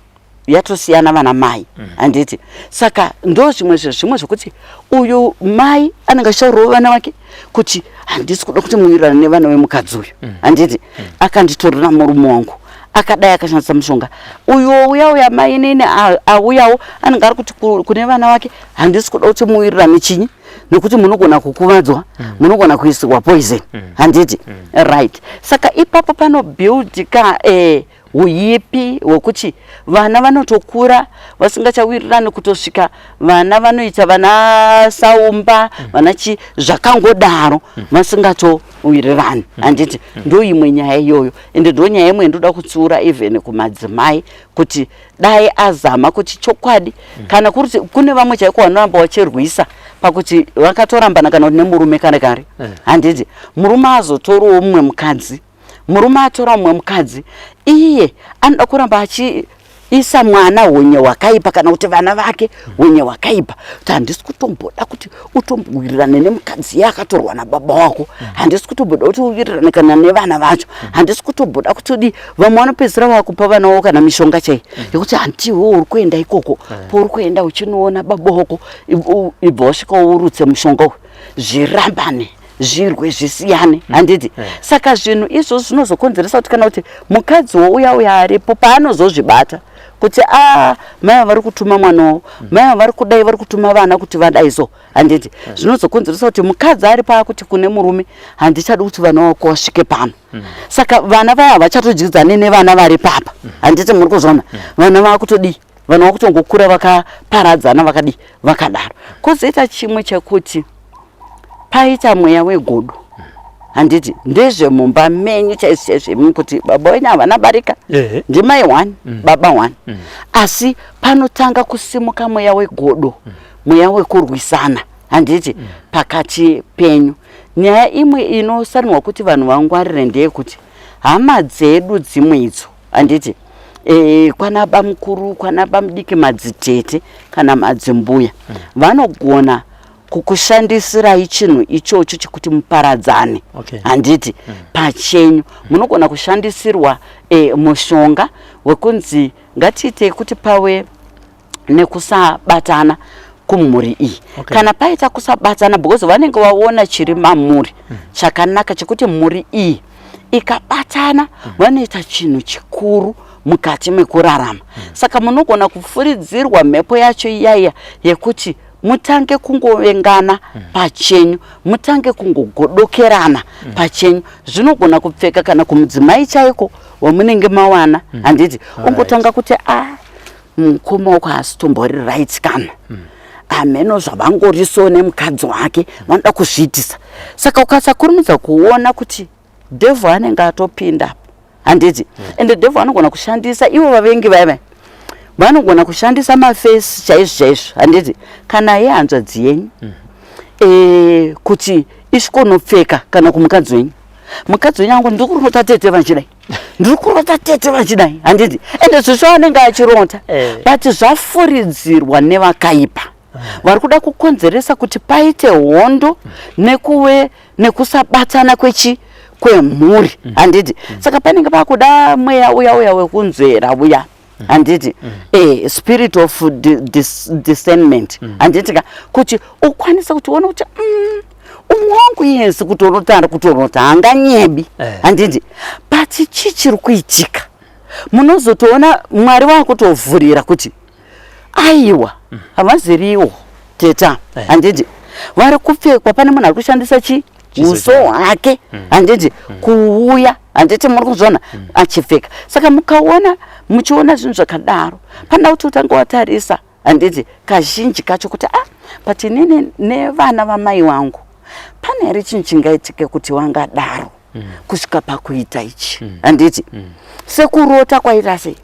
yatosiyana vana mai mm. handiti saka ndo zvimwe zvezvimwe zvekuti uyu mai anenge achichaurawo vana vake kuti handisi kuda kuti muwirirane nevana vemukadzi uyu mm. handiti mm. akanditorera murume wangu akadai akashandisa mushonga uyu ouya uya mai inini auyawo anenge ari kuti kune vana vake handisi kuda kuti muwirirane chinyi nokuti munogona kukuvadzwa mm. munogona mm. kuisirwa poison mm. handiti mm. right saka ipapo panobuild ka eh, uyipi hwekuti vana vanotokura vasingachawirirani kutosvika vana vanoita vana saumba mm. vana chi zvakangodaro mm. vasingatowirirani mm. handiti ndo imwe nyaya iyoyo ende ndo nyaya imwe ndoda kutsiura even kumadzimai kuti mm. dai azama kuti chokwadi mm. kana kuri kuti kune vamwe chaiko vanoramba vachirwisa pakuti vakatorambana kana kuti nemurume kare kare eh. handiti murume azotorawo mumwe mukadzi murume atora mumwe mukadzi iye anoda kuramba achiisa mwana hunye hwakaipa kana kuti vana vake hunye hwakaipa kuti handisi kutomboda kuti utombowirirane nemukadzi ye akatorwa nababa wako handisi kutomboda kuti uwirirane kana nevana vacho handisi kutomboda kuti udii vamwe vanopedzisira vakupa vana wavo kana mishonga chaiyi yekuti hantiwo uri kuenda ikoko pouri kuenda uchinoona baba wako ibva wasvika urutse mushonga uyu zvirambane zvirwe zvisiyane mm. handiti mm. saka zvinhu izvozvo zvinozokonzeresa kuti kana kuti mukadzi wouya uya aripo paanozozvibata kuti a mai ava vari kutuma mwana wavo mai ava vari kudai vari kutuma vana kuti vadai so handiti hmm. zvinozokonzeresa kuti mukadzi ari paakuti kune murume handichadi kuti vana vako vasvike pano hmm. saka vana vaya havachatodyidzane nevana vari papa hmm. handiti muri kuzvona vana vakutodii vana vakutongokura vakaparadzana vakadii vakadaro kozoita chimwe chekuti paita mweya wegodo handiti ndezvemumba menyu chaizvizvemu kuti baba wenyu havana barika ndimai one mm. baba one mm. asi panotanga kusimuka mweya wegodo mm. mweya wekurwisana handiti pakati penyu nyaya imwe inosarinwa kuti vanhu vangwarire ndeyekuti hama dzedu dzimwe idzo handiti e, kwana bamukuru kwana bamudiki madzitete kana madzimbuya vanogona mm. kukushandisirai chinhu ichocho chekuti muparadzane handiti okay. mm. pachenyu munogona kushandisirwa e, mushonga wekunzi ngatiite kuti pave nekusabatana kumhuri iyi okay. kana paita kusabatana because vanenge vaona chiri mamuri mm. chakanaka chekuti mhuri iyi ikabatana mm. vanoita chinhu chikuru mukati mekurarama mm. saka munogona kufuridzirwa mhepo yacho iyaiya yekuti mutange kungovengana pachenyu mutange kungogodokerana pachenyu zvinogona kupfeka kana kumudzimai chaiko wamunenge mawana handiti ungotanga kuti a mukoma wako haasi tombori right kana hameno zvavangoriso nemukadzi wake vanoda kuzviitisa saka ukasakurumidza kuona kuti Devil anenge atopinda apo handiti mm. and the devil anogona kushandisa ivo vavengi vaiva vanogona kushandisa mafesi chaizvo chaizvo handiti kana ye hanzvadzi yenyu mm. e, kuti isvikonopfeka kana kumukadzi wenyu mukadzi wenyu angu ndiri kurota tete vachidai ndiri kurota tete vachidai handiti ende zvisvo anenge achironda eh. but zvafuridzirwa nevakaipa vari kuda kukonzeresa kuti paite hondo nekuve nekusabatsana kwechi kwemhuri mm. handiti mm. saka panenge pakuda mweya uya uya wekunzvera uya mm. handiti eh, spirit of discernment handiti ka kuti ukwanise kuti uone kuti umwe wangu yesi kuti unotanda kuti unoti hanganyebi eh. handiti but chii chiri kuitika munozotoona mwari vakutovhurira kuti aiwa mm. havaziriwo teta eh. handiti vari kupfekwa pane munhu ari kushandisa chi uso hwake mm. handiti mm. kuuya handiti muri kuzviona mm. achipfeka saka mukaona muchiona zvinhu zvakadaro panoda kuti utange watarisa handiti kazhinji kacho kuti a ah, but inini nevana vamai vangu pane here chinhu chingaitike kuti vangadaro kusvika pakuita ichi handiti sekurota kwaita sei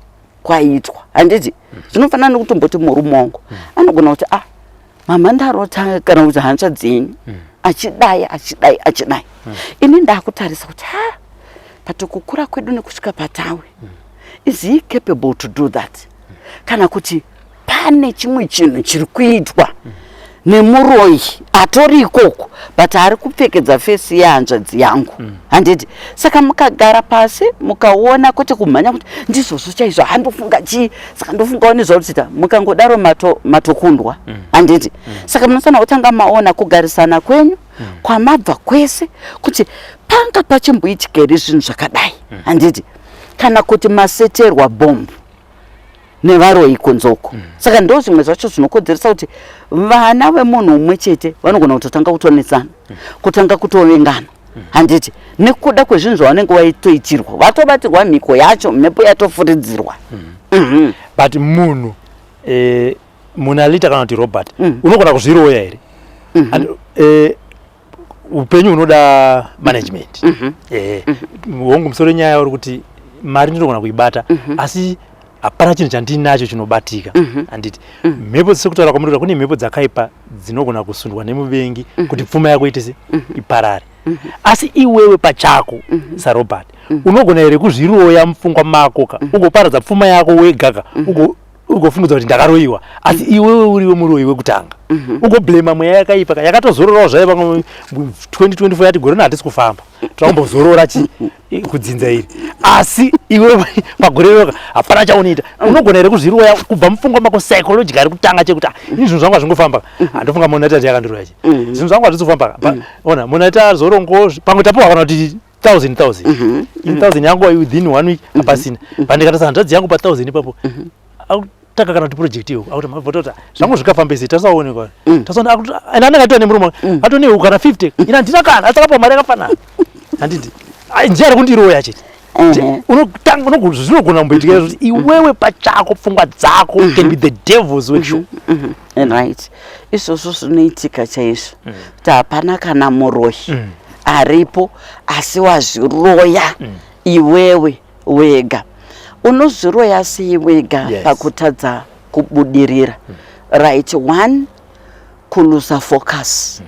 kwaitwa handiti mm. zvinofanana nekutomboti murume wangu mm. anogona kuti ah mama ndarota kana kuti hanzva dzenyu mm. achidai achidai achidai mm. ini ndakutarisa kuti ha but kukura kwedu nekusvika patawe mm. is he capable to do that mm. kana kuti pane chimwe chinhu chiri kuitwa nemuroyi atori ikoko but ari kupfekedza fesi yehanzvadzi yangu mm. handiti mm. saka mukagara pasi mukaona kwete kumhanya kuti ndizvozvo chaizvo handofunga chii saka ndofungawo nezvauritsita mukangodaro matokundwa mato mm. handiti mm. mm. saka munofanira kutanga maona kugarisana kwenyu mm. kwamabva kwese kuti panga pachimboitika here zvinhu zvakadai mm. handiti mm. kana kuti maseterwa bhombu nevaroyi kunzoko mm. saka ndo zvimwe zvacho zvinokodzeresa kuti vana vemunhu umwe chete vanogona kutotanga kutonetsana mm. kutanga kutovengana mm. handiti nekuda kwezvinhu zvavanenge vaitoitirwa vatobatirwa mhiko yacho mhepo yatofuridzirwa mm. mm -hmm. but munhu eh, munalita kana kuti robert mm. unogona kuzviroya here mm -hmm. And, eh, upenyu hunoda management mm -hmm. yeah. mm -hmm. hongu musoro nyaya uri kuti mari ndinogona kuibata mm -hmm. asi hapana chinhu chandinacho chinobatika mm -hmm. anditi mm -hmm. mhepo sekutaura kwamuri kune mhepo dzakaipa dzinogona kusundwa nemuvengi mm -hmm. kuti pfuma yako itese mm -hmm. iparare mm -hmm. asi iwewe pachako mm -hmm. sarobert mm -hmm. unogona here kuzviroya mupfungwa mako ka mm -hmm. ugoparadza pfuma yako wegaka mm -hmm. ugofumudza kuti ndakaroyiwa asi mm. iwewe uriwe muroyi wekutanga mhm. ugoblema mweya yakaipa ka yakatozororawo zvaye vamwe 2024 yati gore rino hatisi kufamba twakumbozorora chi kudzinza iri asi iwe pagore roka hapana chaunoita mm. unogona here kuzviroya kubva mupfungwa mako psychology ari kutanga chekuti ah, ini zvinhu zvangu hazvingofamba mhm. handofunga monati ati yakandiroya chi mhm. zvinhu zvangu hazvisi kufamba ona monati azorongo pamwe tapohwa kana kuti 1000 1000 mm -hmm. in 1000 mhm. yangu within one week mm -hmm. apasina mhm. pandikatasa hanzvadzi yangu pa 1000 ipapo mm -hmm taka kana kuti project iyo akuti mavotota zvangu zvikafamba izvi tasaonekwa mm. tasaona akuti and anenge atone murume mm. atone ukana 50 mm. ina ndina kana asakapa mari yakafanana handiti njia ari kundiroya chete mm-hmm. unotanga unozvinogona kumboitika kuti mm-hmm. iwewe pachako pfungwa dzako mm-hmm. can be the devils workshop and right izvozvo zvinoitika chaizvo mm. kuti hapana kana muroyi mm. aripo asi wazviroya mm. iwewe wega unozviroya sei wega yes. pakutadza kubudirira mm. right one kuluza focus mm.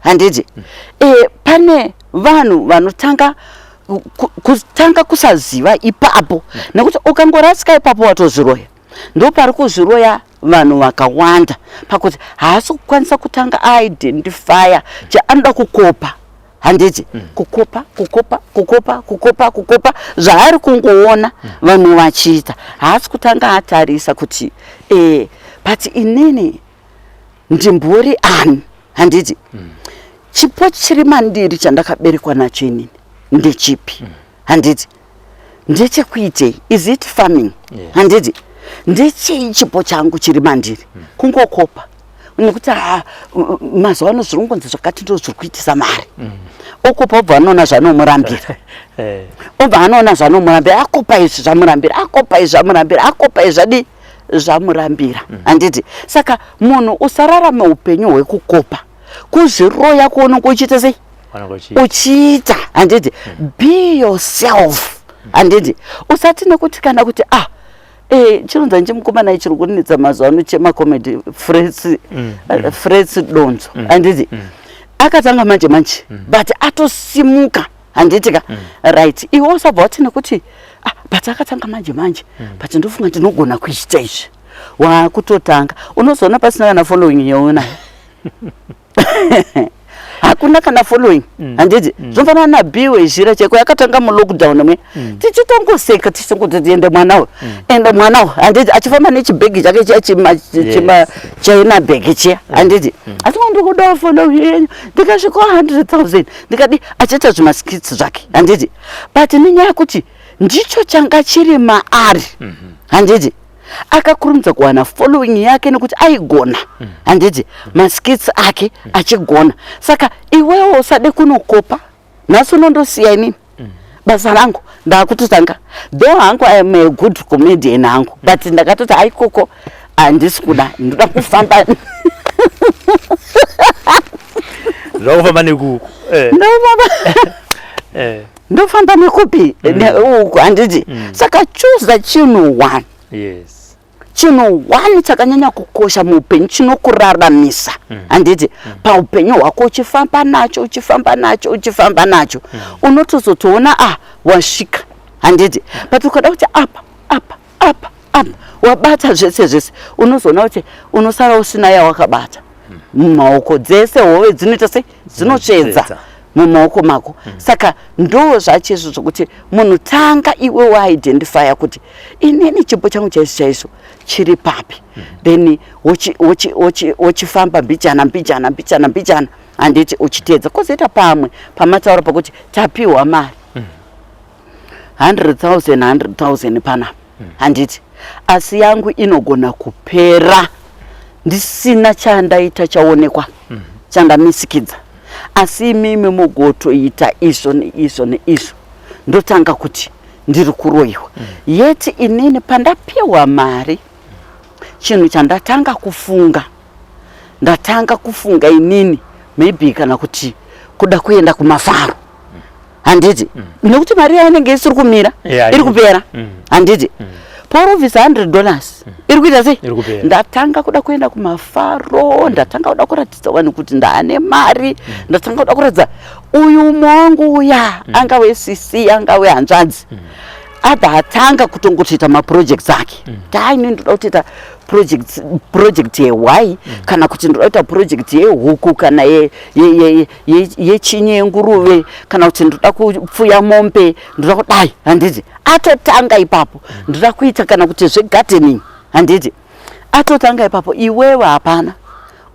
handiti mm. e, pane vanhu vanotanga kutanga kusaziva ipapo mm. nekuti ukangorasika ipapo watozviroya ndo pari kuzviroya vanhu vakawanda pakuti haasi kukwanisa kutanga aidentifya chaanoda kukopa handiti mm. kukopa kukopa kukopa kukopa kukopa zvaari kungoona mm. vanhu vachiita haasi kutanga atarisa kuti e, but inini ndimbori ani handiti mm. chipo chiri mandiri chandakaberekwa nacho inini ndechipi mm. handiti ndechekuitei is it farming yeah. handiti ndechei chipo changu chiri mandiri mm. kungokopa nekuti ah, mazuva ano zviri kungonzi zvakati ndo zviri kuitisa mari mm. okupa obva anoona zvanomurambira eh. obva anoona zvanomurambira akopa izvi zvamurambira akopa izvi zvamurambira akopa izvi zvadii zvamurambira mm. handiti saka munhu usararame upenyu hwekukopa kuzviroya kuononga uchiita sei uchiita handiti mm. be yourself mm. handiti usati nekuti kana kuti ah Eh, chironza nchimukomana ichiri kunetsa mazuva ano chemacomedy fresi mm, eh, mm. donzo mm, anditi akatanga manje manje but atosimuka handiti ka mm. right iwe usabva wati nekuti ah, but akatanga manje manje mm. but ndofunga ndinogona kuita izvi wakutotanga unozoona pasina kana following yoona hakuna kana following mm. handiti mm. zvinofanana nabiwe zhira cheko yakatanga mulockdown mwe mm. tichitongoseka tichitongotitiende mwana uyu mm. ende mwana uyu handiti achifamba nechibhegi chake chiya chinachaina bhegi chiya mm. handiti mm. asi ndikudawo following yenyu ndikasvikawo hundred thousand ndikadi achaita zvimaskits zvake handiti but nenyaya yekuti ndicho changa chiri maari mhm. handiti mm -hmm akakurumidza kuwana following yake nekuti aigona mm. handiti maskits ake mm. achigona saka iwewo usade kunokopa nhasi unondosiya inini basa rangu ndakutotanga though hangu i am a good comedian hangu but ndakatoti aikoko handisi kuda ndoda kufamba zvakufamba nekuku eh. ndofamba eh. ndofamba nekupi mm. uku handiti mm. saka choose the chino one yes chinhu one chakanyanya kukosha muupenyu chinokuraramisa mm. handiti mm. paupenyu hwako uchifamba nacho uchifamba nacho uchifamba nacho mm. unotozotoona ah wasvika handiti but ukada kuti apa apa apa apa wabata zvese zvese unozoona kuti unosara usina yawakabata mumaoko dzese hove dzinoita sei dzinotsvedza mumaoko mako mm. saka ndo zvacho izvo zvokuti munhu tanga iwe waidentifya kuti inini chipo changu chaizvo chaizvo chiri papi mm. then wochifamba mbichana mbichana mbichana mbichana handiti uchiteedza kozoita pamwe pamataura pakuti tapiwa mari 100 000 100 000 panapa handiti asi yangu inogona kupera ndisina chandaita chaonekwa mhm. chandamisikidza asi imimi mugotoita izvo neizvo neizvo ndotanga kuti ndiri kuroyiwa mhm. yeti inini pandapiwa mari chinhu chandatanga kufunga ndatanga kufunga inini maybe kana kuti kuda kuenda kumafaro handiti mm. nekuti mari yayo inenge isiri kumira yeah, iri kupera mm. handiti mm. porovisa 100 dollars mm. iri kuita sei ndatanga kuda kuenda kumafaro mm. ndatanga kuda kuratidza vanhu kuti ndaane mari mm. ndatanga kuda kuratidza uyu mongu uya mm. anga wecc anga wehanzvadzi mm. abva atanga kutongotoita maprojects ake mm. taine ndoda kutoita project yehwai mm. kana kuti ndoda kuita project yehuku kana yechinye yenguruve kana kuti ndoda kupfuya mombe ndoda kudai handiti atotanga ipapo ndoda kuita kana kuti zvegardening handiti atotanga ipapo iwewe hapana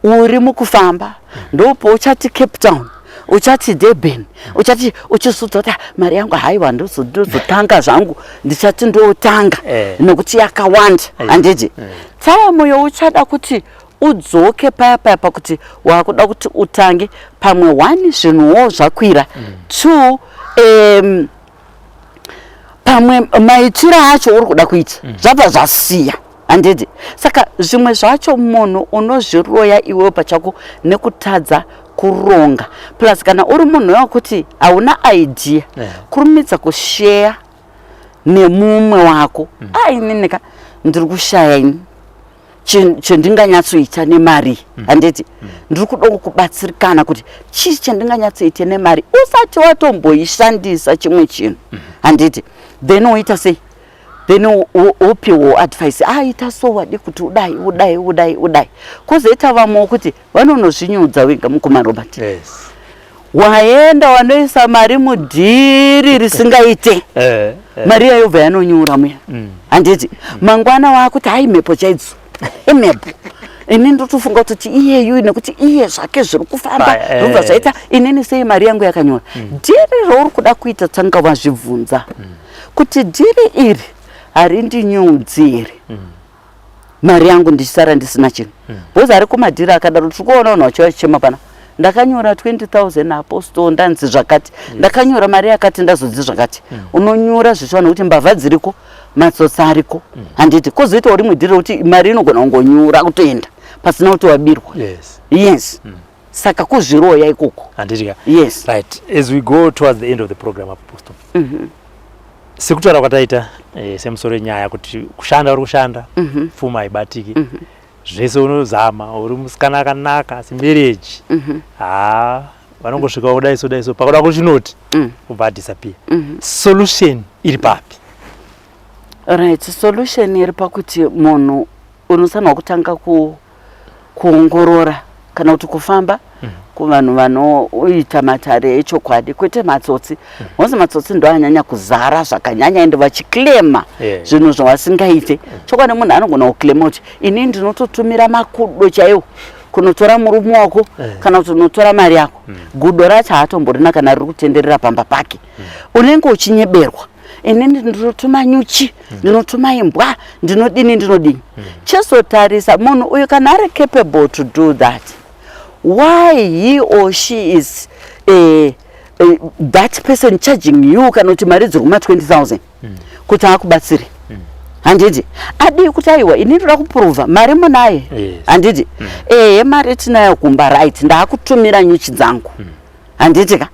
uri mukufamba ndopouchati cape town uchati durban uchati uchizudza kuti ah, mari yangu haiwa ndozotanga zvangu ndichati ndotanga eh. nokuti yakawanda handiti eh. taimu youchada kuti udzoke paya paya pakuti wakuda kuti utange pamwe one zvinhuwo zvakwira mm. two um, pamwe maitiro acho uri kuda kuita mm. zvabva zvasiya handidi saka zvimwe zvacho munhu unozviroya iwewo pachako nekutadza kuronga plus kana uri munhu wekuti hauna idea yeah. kurumidza kusheya nemumwe wako mm. ainini ka ndiri kushaya ini chendinganyatsoita nemari mm. handiti mm. ndiri kuda kubatsirikana kuti chii chendinganyatsoita nemari usati watomboishandisa chimwe chinhu mm. handiti then woita sei then wopiwo advice aita ah, so wadi kuti udai udai udai udai kwozoita vamwe wokuti vanonozvinyudza wega mukoma robert yes. waenda wanoisa mari mudhiri risingaite eh, eh. mari yayobva yanonyura muya mm. handiti mm. mangwana waakuti hai mhepo chaidzo imhepo ini ndotofunga kutoti iyeyu nekuti iye zvake zviri kufamba eh. zvobva zvaita inini sei mari yangu yakanyora mm. dhiri rauri kuda kuita tanga wazvibvunza kuti dhiri iri harindi nyudzi here mari yangu ndichisara ndisina chinhu hmm. bhozi ari kumadhiri akadaro tiri kuona unhu wacho achichema pana ndakanyora 20000 apostol ndanzi zvakati hmm. ndakanyora mari yakati ndazodzi zvakati hmm. unonyora zvichiwana kuti mbavha dziriko matsotsa ariko handiti kozoitawo rimwe dhiri rekuti mari inogona kungonyura kutoenda pasina kuti wabirwa yes saka kuzviroya ikoko handiti ka yes right as we go towards the end of the program apo posto mm -hmm. sekutaura kwataita eh, semusoro yenyaya kuti kushanda uri kushanda mm -hmm. pfuma haibatiki mm -hmm. zvese unozama uri musikana akanaka asi mereji mm -hmm. haa vanongosvika kudai so dai so pakuda kuchinoti mm. ubva adisappear mm -hmm. solution iri papi right solution iri pakuti munhu unosanwa kutanga ku kuongorora kana kuti kufamba mm. kuvanhu vanoita matare echokwadi kwete matsotsi mm. mose matsotsi ndo anyanya kuzara zvakanyanya ende vachiclema yeah. zvinhu zvawasingaite mm. chokwadi munhu anogona kuclema kuti ini ndinototumira makudo chaiwo kunotora murume wako eh. kana kuti unotora mari yako mm. gudo racho haatomborina kana riri kutenderera pamba pake unenge uchinyeberwa inini ndinotuma nyuchi ndinotuma imbwa ndinodini ndinodini chizotarisa munhu uyu kana ari capable to do that why he or she is uh, uh, that person charging you kana kuti mari dziri kuma 20000 mm. kuti akubatsiri mm. handiti adii kuti aiwa ini ndoda kupuruvha mari munaye handiti yes. mm. ehe mari tinayo kumba right ndaakutumira nyuchi dzangu mm. handiti ka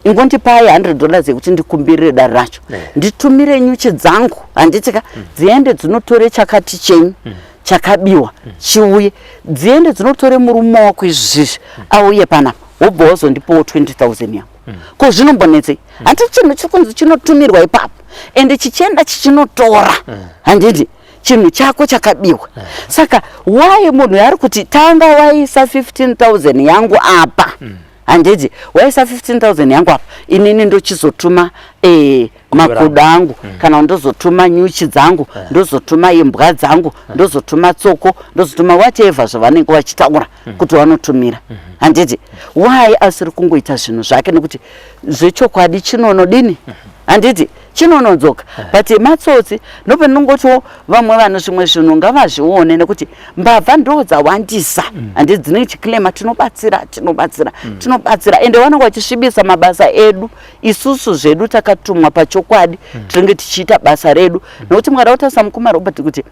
ingondipai 100 dollars yekuti ndikumbirire dare racho eh. nditumire nyuchi dzangu handiti ka mm. dziende dzinotore chakati chenyu mm. chakabiwa mm. chiuye dziende dzinotore murume wako izvizvi auye panapa wobva wazondipawo 20000 yangu ko zvinombonetsei handiti chinhu chiri kunzi chinotumirwa ipapo ende chichienda chichinotora handiti chinhu chako chakabiwa eh. saka why munhu yaari kuti tanga waisa 15000 yangu apa mm. handiti waisa 15000 yangu apa inini ndochizotuma eh, makudo angu mm. kana ndozotuma nyuchi dzangu eh. ndozotuma imbwa dzangu ndozotuma tsoko ndozotuma whatever zvavanenge vachitaura mm. kuti wanotumira mm -hmm. handiti why asiri kungoita zvinhu zvake nekuti zvechokwadi chinonodini mm -hmm handiti chinonodzoka eh. but matsotsi ndopendinongotiwo vamwe vanhu zvimwe zvinhu ngavazvione nekuti mbavha ndo dzawandisa mm. handi dzine chiclema tinobatsira tinobatsira mm. tinobatsira ende vanenge vachisvibisa mabasa edu isusu zvedu takatumwa pachokwadi mm. tinenge tichiita basa redu nekuti mukada kutarisa mukoma robert kuti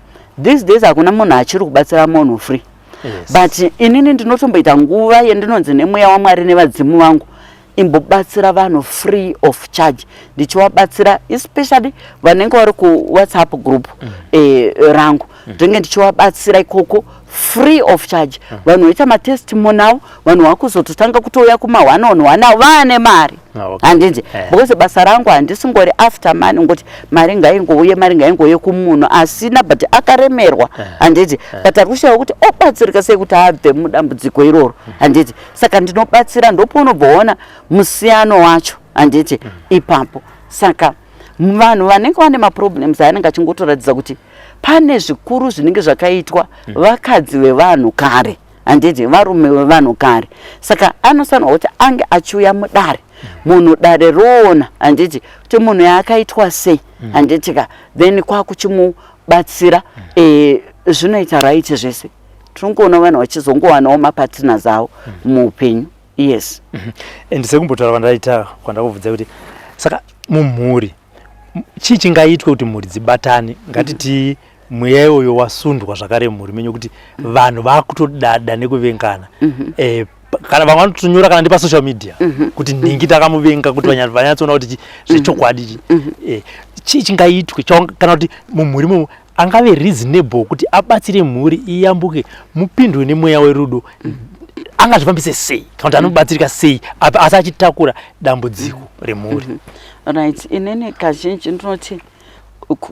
these days hakuna munhu achiri kubatsira munhu free yes. but inini ndinotomboita nguva yendinonzi nemweya wamwari nevadzimu vangu imbobatsira vanhu free of charge ndichivabatsira especially vanenge vari kuwhatsapp group mm. eh, rangu mm. ndinenge mm. ndichivabatsira ikoko free of charge mm. vanhu vaita matestimonial vanhu vakuzototanga kutouya kuma one on one avo vaane mari ah, handinzi eh. because basa rangu handisingori after mani ngoti mari ngaingouye mari ngaingouye kumunhu asina but akaremerwa eh. handiti eh. but ari kushaya kuti obatsirika sei kuti abve mudambudziko iroro mm. handiti saka ndinobatsira ndopounobvoona musiyano wacho handiti mm. ipapo saka vanhu vanenge vane maproblems anenge achingotoratidza kuti pane zvikuru zvinenge zvakaitwa mm. vakadzi vevanhu kare handiti varume vevanhu kare saka anosanwa kuti ange achiuya mudare munhu dare roona handiti kuti munhu yaakaitwa sei mm. handiti ka then kwakuchimubatsira mm. eh, zvinoita right zvese tiringoona vanhu vachizongowanawo mapatina zavo mm. muupenyu yes mm-hmm. and sekumbotaura kwandaita kwandakubvudza kuti saka mumhuri chii chingaitwe kuti mhuri dzibatane ngatiti mm-hmm. mweya iwoyo wasundwa zvakare mumhuri menyu kuti vanhu vakutodada nekuvengana mhm. eh, kana vamwe vanotonyora kana ndepasocial media mhm. kuti nhingi takamuvenga kuti mhm. vanyatsoona kuti zvechokwadi eh, chii chingaitwe kana kuti mumhuri mumu angave reasonable kuti abatsire mhuri iyambuke mupindwe nemweya werudo angazvifambise sei kana kuti anobatsirika sei asi achitakura dambudziko remhuri right inini kazhinji ndinoti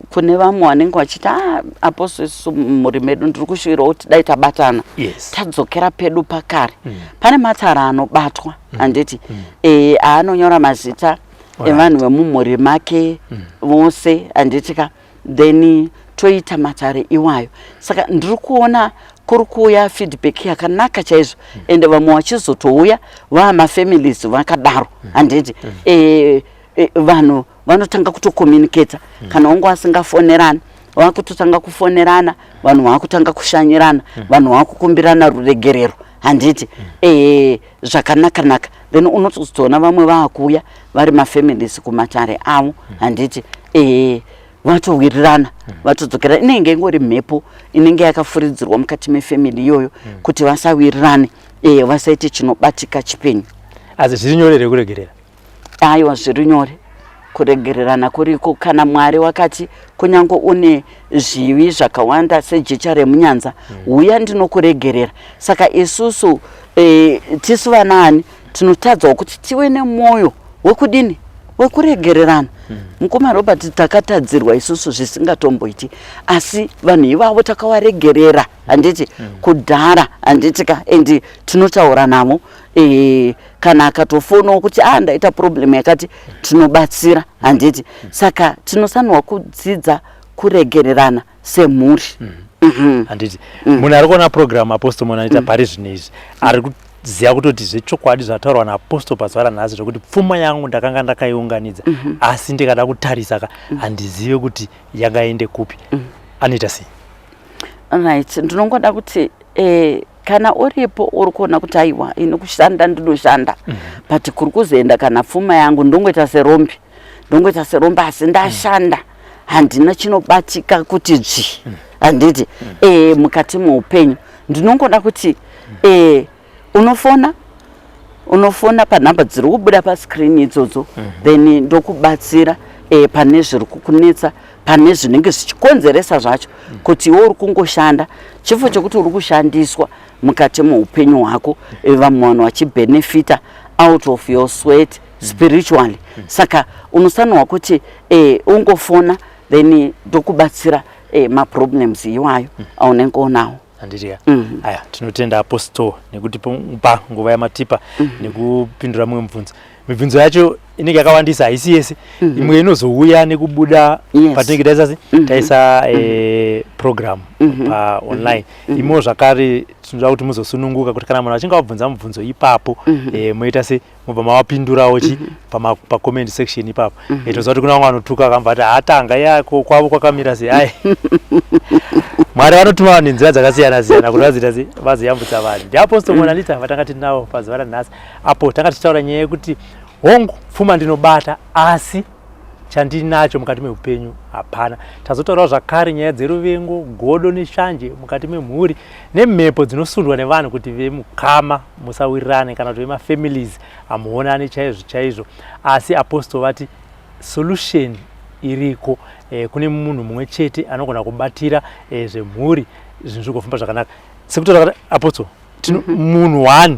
kune vamwe vanenge vachiti ah, aposo isu mumhuri medu ndiri kushuvirawo kuti dai tabatana yes. tadzokera pedu pakare mm. pane matara anobatwa mm. handiti mm. e, aanonyora mazita evanhu vemumhuri make mm. vose mm. handiti ka then toita matare iwayo saka ndiri kuona kuri kuuya feedback yakanaka chaizvo mm. ende vamwe vachizotouya vaamafamilies vakadaro mm. handiti mm. e, e, vanhu vanotanga kutokomunicata mm. kana wangu asingafonerani vakutotanga kufonerana vanhu vakutanga kushanyirana mm. vanhu vakukumbirana ruregerero handiti mm. e, zvakanakanaka then unotozotoona vamwe vakuuya vari mafamilies kumatare avo mm. handiti e, vatowirirana mm. vatodzokera inenge ingori mhepo inenge yakafuridzirwa mukati mefamily iyoyo mm. kuti vasawirirane e, vasaite chinobatika chipenyu asi zviri nyore rekuregerera Aiwa, zviri nyore. Kuregererana kuriko. Kana Mwari wakati, Kunyange une zvivi zvakawanda sejecha remunyanza, huya ndinokuregerera. Saka isusu, eh, tisu vanaani, tinotadzawo kuti tive nemwoyo wekudini? Wekuregererana. Mukoma Robert, takatadzirwa isusu zvisingatomboiti. Asi vanhu ivavo takawaregerera, handiti? Kudhara, handiti ka? And tinotaura navo. Eh, kana akatofonawo kuti a ah, ndaita problem yakati tinobatsira handiti saka tinosanirwa kudzidza kuregererana semhuri mm -hmm. Mhm. handiti mhm. munhu ari kuona program apostle munhu anoita mhm. pari zvino izvi ari kuziva kutoti zvechokwadi zvataurwa naapostle pazuva ranhasi zvekuti pfuma yangu ndakanga ndakaiunganidza asi ndikada kutarisa ka handizive kuti yangaende kupi anoita sei right ndinongoda kuti eh, kana uripo uri kuona kuti aiwa ini kushanda ndinoshanda mm -hmm. but kuri kuzoenda kana pfuma yangu ndongoita serombi ndongoita serombi asi ndashanda handina chinobatika kuti dzvi mm. handiti mm. e, mukati meupenyu ndinongoda kuti mm. e, unofona unofona panhamba dziri kubuda pascreen idzodzo mm -hmm. then ndokubatsira e, pane zviri kukunetsa pane zvinenge zvichikonzeresa zvacho kuti iwe uri kungoshanda chifo chekuti uri kushandiswa mukati meupenyu hwako vamwe vanhu vachibenefita out of your sweat spiritually saka unosanirwa kuti eh, ungofona then ndokubatsira eh, maproblems iwayo aunenge unawo handiti ya mm. aya tinotenda apostle nekuti pa nguva yamatipa mm. nekupindura mumwe mubvunzo mibvunzo yacho inenge yakawandisa haisi yese mm -hmm. imwe inozouya nekubuda yes. patinenge taisa mm -hmm. taisa mm -hmm. e, program mm -hmm. pa mhm. online mm -hmm. imo zvakare tinoda kuti muzosununguka kuti kana munhu achinge wabvunza mubvunzo ipapo mm -hmm. e, moita se mobva mavapindurawo chi mm -hmm. pacomment pa section ipapo mm -hmm. itoziva kuti kuna vamwe vanotuka akamba ati hatanga ya kwavo kwakamira sei ai mwari vanotuma vanhu nenzira dzakasiyana siyana kuti vazoita sei vazoyambutsa vanhu ndiapostle monalita vatanga tinawo pazuva ranhasi apo tanga tichitaura nyaya yekuti hongu pfuma ndinobata asi chandinacho mukati meupenyu hapana tazotaurawo zvakare nyaya dzeruvengo godo neshanje mukati memhuri nemhepo dzinosundwa nevanhu kuti vemukama musawirirane kana kuti vemafamilies hamuonane chaizvo chaizvo asi apostol vati solution iriko eh, kune munhu mumwe chete anogona kubatira eh, zvemhuri zvinhu zvigofamba zvakanaka sekutoapostle tino mm -hmm. munhu one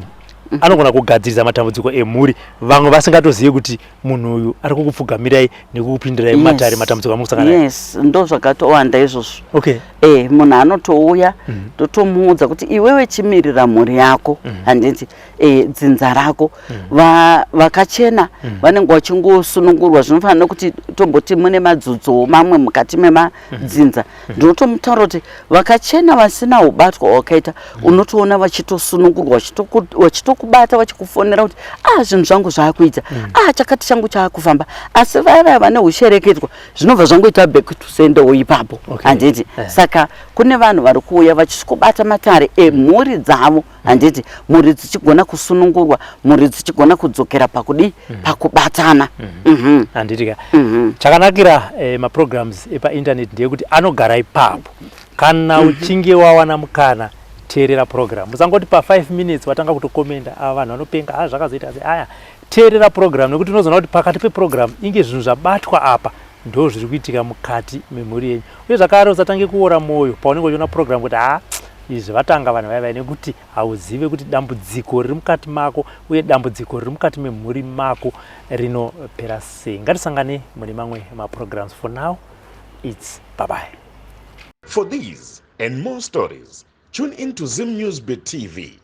mhm. anogona kugadzirisa matambudziko emhuri vamwe vasingatozivi kuti munhu uyu ari kukupfugamirai nekukupindirai mumatare yes. matambudziko amukusangana yes ndo zvakatowanda izvozvo okay. e, munhu anotouya mhm. totomuudza mm -hmm. kuti iwewe chimirira mhuri yako mm -hmm. handiti e, dzinza rako mm -hmm. Va, vakachena mm -hmm. vanenge vachingosunungurwa zvinofanira kuti tomboti mune madzudzowo mamwe mukati mema mhm. dzinza mhm. ndinotomutaura kuti vakachena vasina ubatwa hwakaita mhm. unotoona vachitosunungurwa vachitokubata vachikufonera kuti ah zvinhu zvangu zvaakuita ah chakati changu chaakufamba asi vaya vaya vane ushereketwa zvinobva zvangoita back to sendewo ipapo handiti eh. saka kune vanhu vari kuuya vachisvikobata matare emhuri dzavo handiti mhuri dzichigona kusunungurwa mhuri dzichigona kudzokera pakudii mm -hmm. pakubatana mm -hmm. mm -hmm. handiti ka mm -hmm. chakanakira eh, maprograms epainternet ndeyekuti anogara ipapo kana mhm. uchinge wawana mukana teerera program usangoti pa5 minutes watanga kutokomenda ava vanhu vanopenga ha ah, zvakazoita se aya teerera program nekuti unozoona kuti pakati peprogram inge zvinhu zvabatwa apa ndo zviri kuitika mukati memhuri yenyu uye zvakare usatange kuora mwoyo paunenge uchiona program kuti ha ah, Izvi vatanga vanhu vaya vaya nekuti hauzive kuti dambudziko riri mukati mako uye dambudziko riri mukati memhuri mako rinopera sei. Ngatisangane mune mamwe maprograms. For now, it's bye bye. For these and more stories, tune in to Zim News Beat TV.